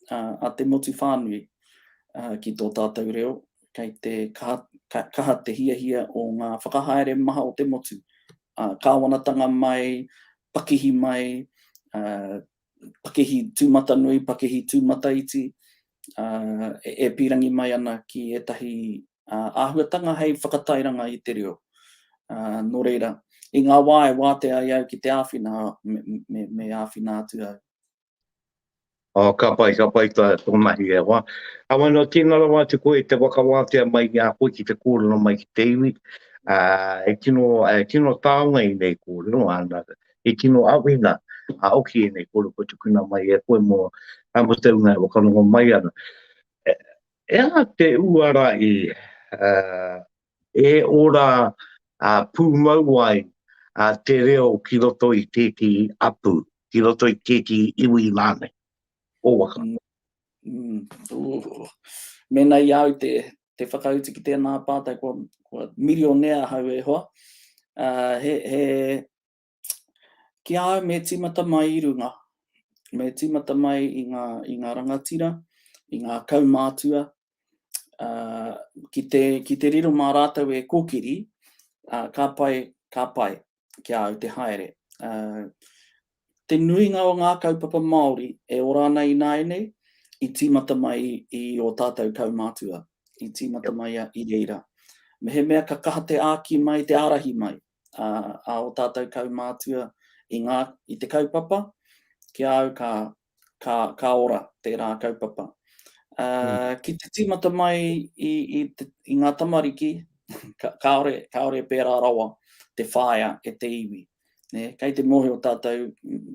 a te motu whānui ki tō tātou reo, kei te kaha te hiahia o ngā whakahaere maha o te motu, kāwanatanga mai, pakihi mai, pakihi tūmatanui, pakihi tūmataiti, ā, e pīrangi mai ana ki ētahi āhuatanga hei whakatairanga i te reo. Ā, nō reira, i ngā wā e wātea ai au ki te āwhina, me, me āwhina atu au. Oh, ka pai, ka pai tā tō mahi e hoa. Ā, wai nō, tēnā rawa atu koe i te whakawātea mai i a koe ki te kōrero mai ki te iwi. Ā, e tino, e tino taonga i nei kōrero, ā, nā, i tino awhina a oki enei koroua tukuna mai e koe mo mo te unga e whakanoho mai ana. E aha te uara i e ora pumau ai te reo ki roto i teti apu, ki roto i teti iwi ranei o Waka? Mena i au te te whakautu ki tēnā pātai kua, kua mirionea ahau e hoa, he, he, Ki a au me tīmata mai i runga, me tīmata mai i ngā, i ngā rangatira, i ngā kaumātua, ā, ki te, ki te riro mā rātou e kōkiri, ā, ka pai, ka pai ki a au te haere. Ā, te nuinga o ngā kaupapa Māori e ora ana ināianei, i tīmata mai i ō tātou kaumātua, i tīmata mai i reira. Mehemea ka kaha te āki mai, te ārahi mai, a o tātou kaumātua i ngā, i te kaupapa, ki a au ka, ka, ka ora tērā kaupapa. Uh, ki te tīmata mai i, i, te, i ngā tamariki, ka, kāore, kāore e pērā rawa te whaea e te iwi. Ne, kei te mohi o tātou,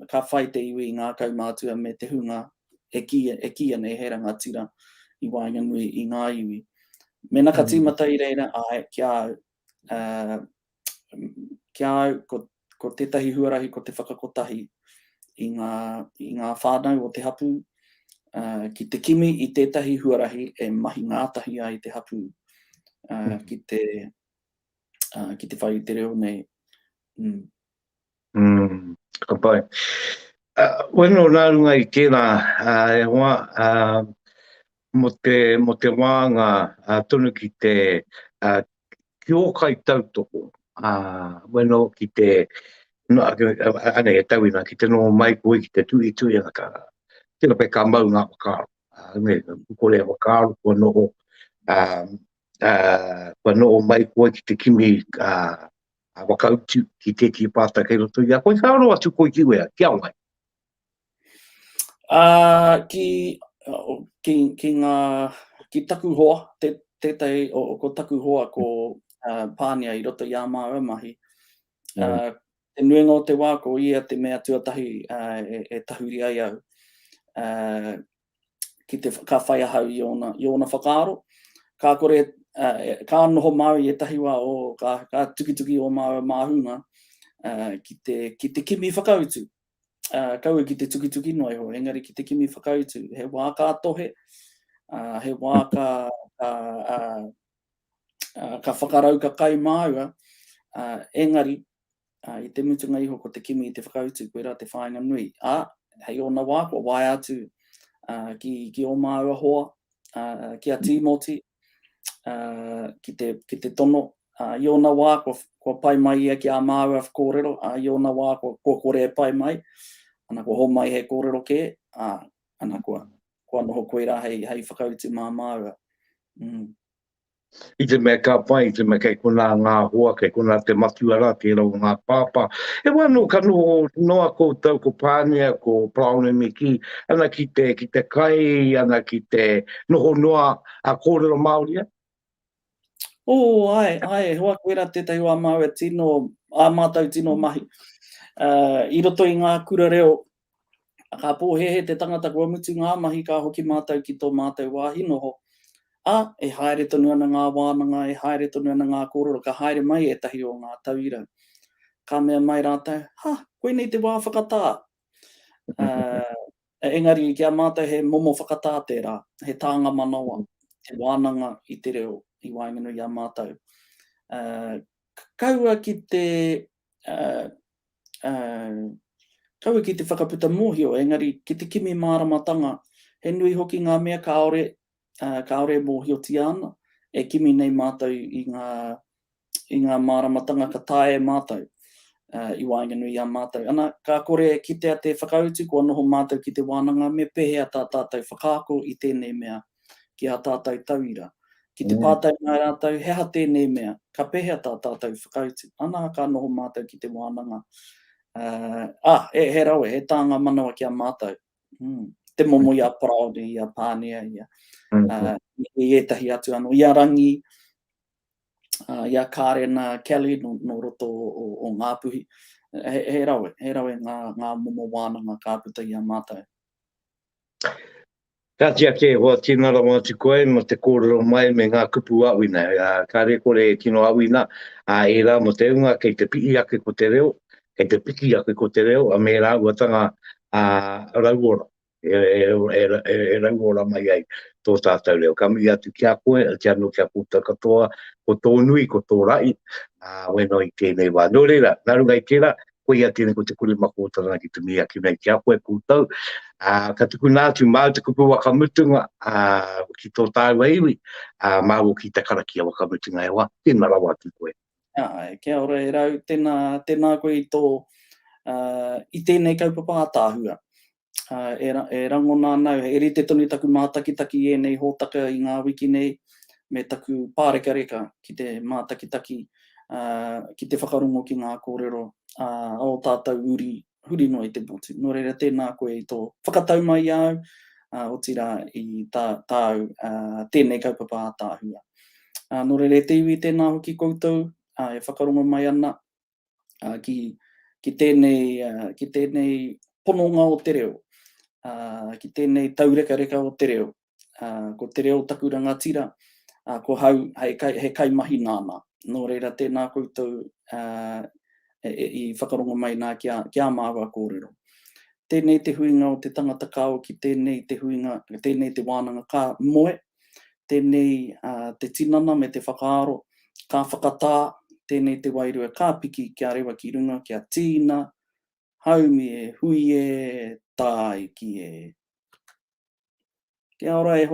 ka whai te iwi i ngā kaumātua me te hunga e ki, e ki anei he rangatira i waenganui i ngā iwi. Mena ka mm. tīmata i reira, ai, ki a, ki a au, ko, ko tētahi huarahi ko te whakakotahi i ngā, i ngā whānau o te hapū, uh, ki te kimi i tētahi huarahi e mahi ngātahi ai te hapū uh, ki, te, uh, ki te whai te reo nei. Mm. Mm, ka pai. Uh, weno nā runga i tērā, uh, e hoa, uh, mo te, mo te wānga uh, tonu ki te uh, ki o kai tautoko, uh, weno ki te, no, ane e tauina, ki te nō mai koi ki te tui tui ana ka, tira pe ka mau ngā wakaaro, uh, me, kore a wakaaro, kua noho, uh, uh, kua noho mai koi ki te kimi, uh, Ka whakautu ki tētehi pātai kei roto i a koe, ka aro atu koe ki wea, ki a wai? Uh, ki, uh, ki, ki, ngā, ki taku hoa, te, tētai, o, o, ko taku hoa ko uh, Pānia i roto i a māua mahi. Mm. Uh, mm. Te nuenga o te wā, ko ia te mea tuatahi uh, e, e tahuri ai au. Uh, ki te, ka whai ahau i ōna, i ōna whakaaro. Ka kore, uh, ka noho māu i ētahi wā o, ka, ka tukituki o māu māhunga uh, ki, te, ki te kimi whakautu. Uh, kaua ki te tukituki noa iho, engari ki te kimi whakautu. He wā ka tohe, uh, he wā ka, ka, uh, uh, ka whakarau ka kai māua, uh, engari ā, i te mutunga iho ko te kimi i te whakautu, koirā te whāinga nui, ā, hei ōna wā kua waea atu ki, ki ō māua hoa, ā, ki a Tīmoti, ā, ki te, ki te tono, ā, i ōna wā kua, kua pai mai ia ki ā māua kōrero, ā, i ōna wā kua, kua kore e pai mai, ana kua homai he kōrero kē, ā, ana kua, kua noho koirā hei, hei whakautu mā māua. Mm. I te mea ka pai, i te mea kei konā ngā hoa, kei konā te matua rā, kei rau ngā pāpā. E wā nō ka noho noa koutou ko Pānia, ko Praone me kī, ana ki te, ki te kai, ana ki te noho noa a kōrero Māori a? Ō, ae, ae, hoa koe rā tētahi wā māua tino, ā mātou tino mahi. I roto i ngā kura reo, Ka pōhēhē te tangata kua mutu ngā mahi ka hoki mātou ki tō mātou wāhi noho, ā, e haere tonu ana ngā wānanga, e haere tonu ana ngā kōrero, ka haere mai ētahi o ngā tauira. Ka mea mai rātou, Ha! Koinei te wā whakatā! Engari ki a mātou he momo whakatā tērā, he tānga manawa, he wānanga i te reo i waenganui i a mātou. Kaua ki te kaua ki te whakaputa mōhio, engari ki te kimi māramatanga, he nui hoki ngā mea kāore, kāore e mōhiotia ana, e kimi nei mātou i ngā, i ngā māramatanga ka taea e mātou, i waenganui i a mātou. Ana, ka kore e kitea te whakautu kua noho mātou ki te wānanga, me pēhea tā tātou whakaako i tēnei mea ki ā tātou tauira. Ki te pātai mai rātou, he aha tēnei mea, ka pēhea tā tātou whakautu? Anā, ka noho mātou ki te wānanga, ā, he rawe, he tānga manawa ki a mātou. Te momo i a Paraone, i a Pānea, i ētahi atu anō, i a Rangi, i a Kārena Kelly nō roto o Ngāpuhi. He rawe, he rawe ngā momo wānanga ka puta i a mātou. Kāti ake e hoa tina rawa atu koe mō te kōrero mai me ngā kupu āwhina. Kāre kore e tino āwhina ā ērā mō te hunga kei te pihi ake ko te reo, kei te piki ake ko te reo me rāuatanga rauora, e rauora mai ai tō tātou reo. Ka mihi atu ki a koe, oti anō ki a koutou katoa, ko tō nui, ko tō rahi, wēnā i tēnei wā. Nō reira, nā runga i tērā, koia tēnei ko te kuri mako tana ki te mii ake nei ki a koe koutou. Uh, ka tukuna atu māu te kupu wakamutunga uh, ki tō tāua iwi, uh, māu ki te karakia wakamutunga e wā, tēnā rawa atu koe. Ai, kia ora e rau, tēnā, tēnā koe i tō, uh, i tēnei kaupapa a tāhua. e rangona ana au, he rite tonu taku mātakitaki i ēnei hōtaka i ngā wiki nei, me taku pārekareka ki te mātakitaki, ki te whakarongo ki ngā kōrero a ō tātou uri huri noa i te motu. Nō reira, tēnā koe i tō whakatau mai i a au, otirā, i tāu tēnei kaupapa ātaahua. Nō reira, e te iwi, tēnā hoki koutou e whakarongo mai ana, ki tēnei pononga o te reo, ki tēnei taurekareka o te reo. Ko te reo taku rangatira, ko hau he kaimahi nāna. Nō reira, tēnā koutou i whakarongo mai nā ki ā māua kōrero. Tēnei te huinga o te tangata kāo ki tēnei te huinga, tēnei te wānanga ka moe, Tēnei te tinana me te whakaaro, ka whakatā, tēnei te wairua ka piki kia rewa ki runga kia tīna, haumi e hui e, tāiki e. Kia ora e hoa.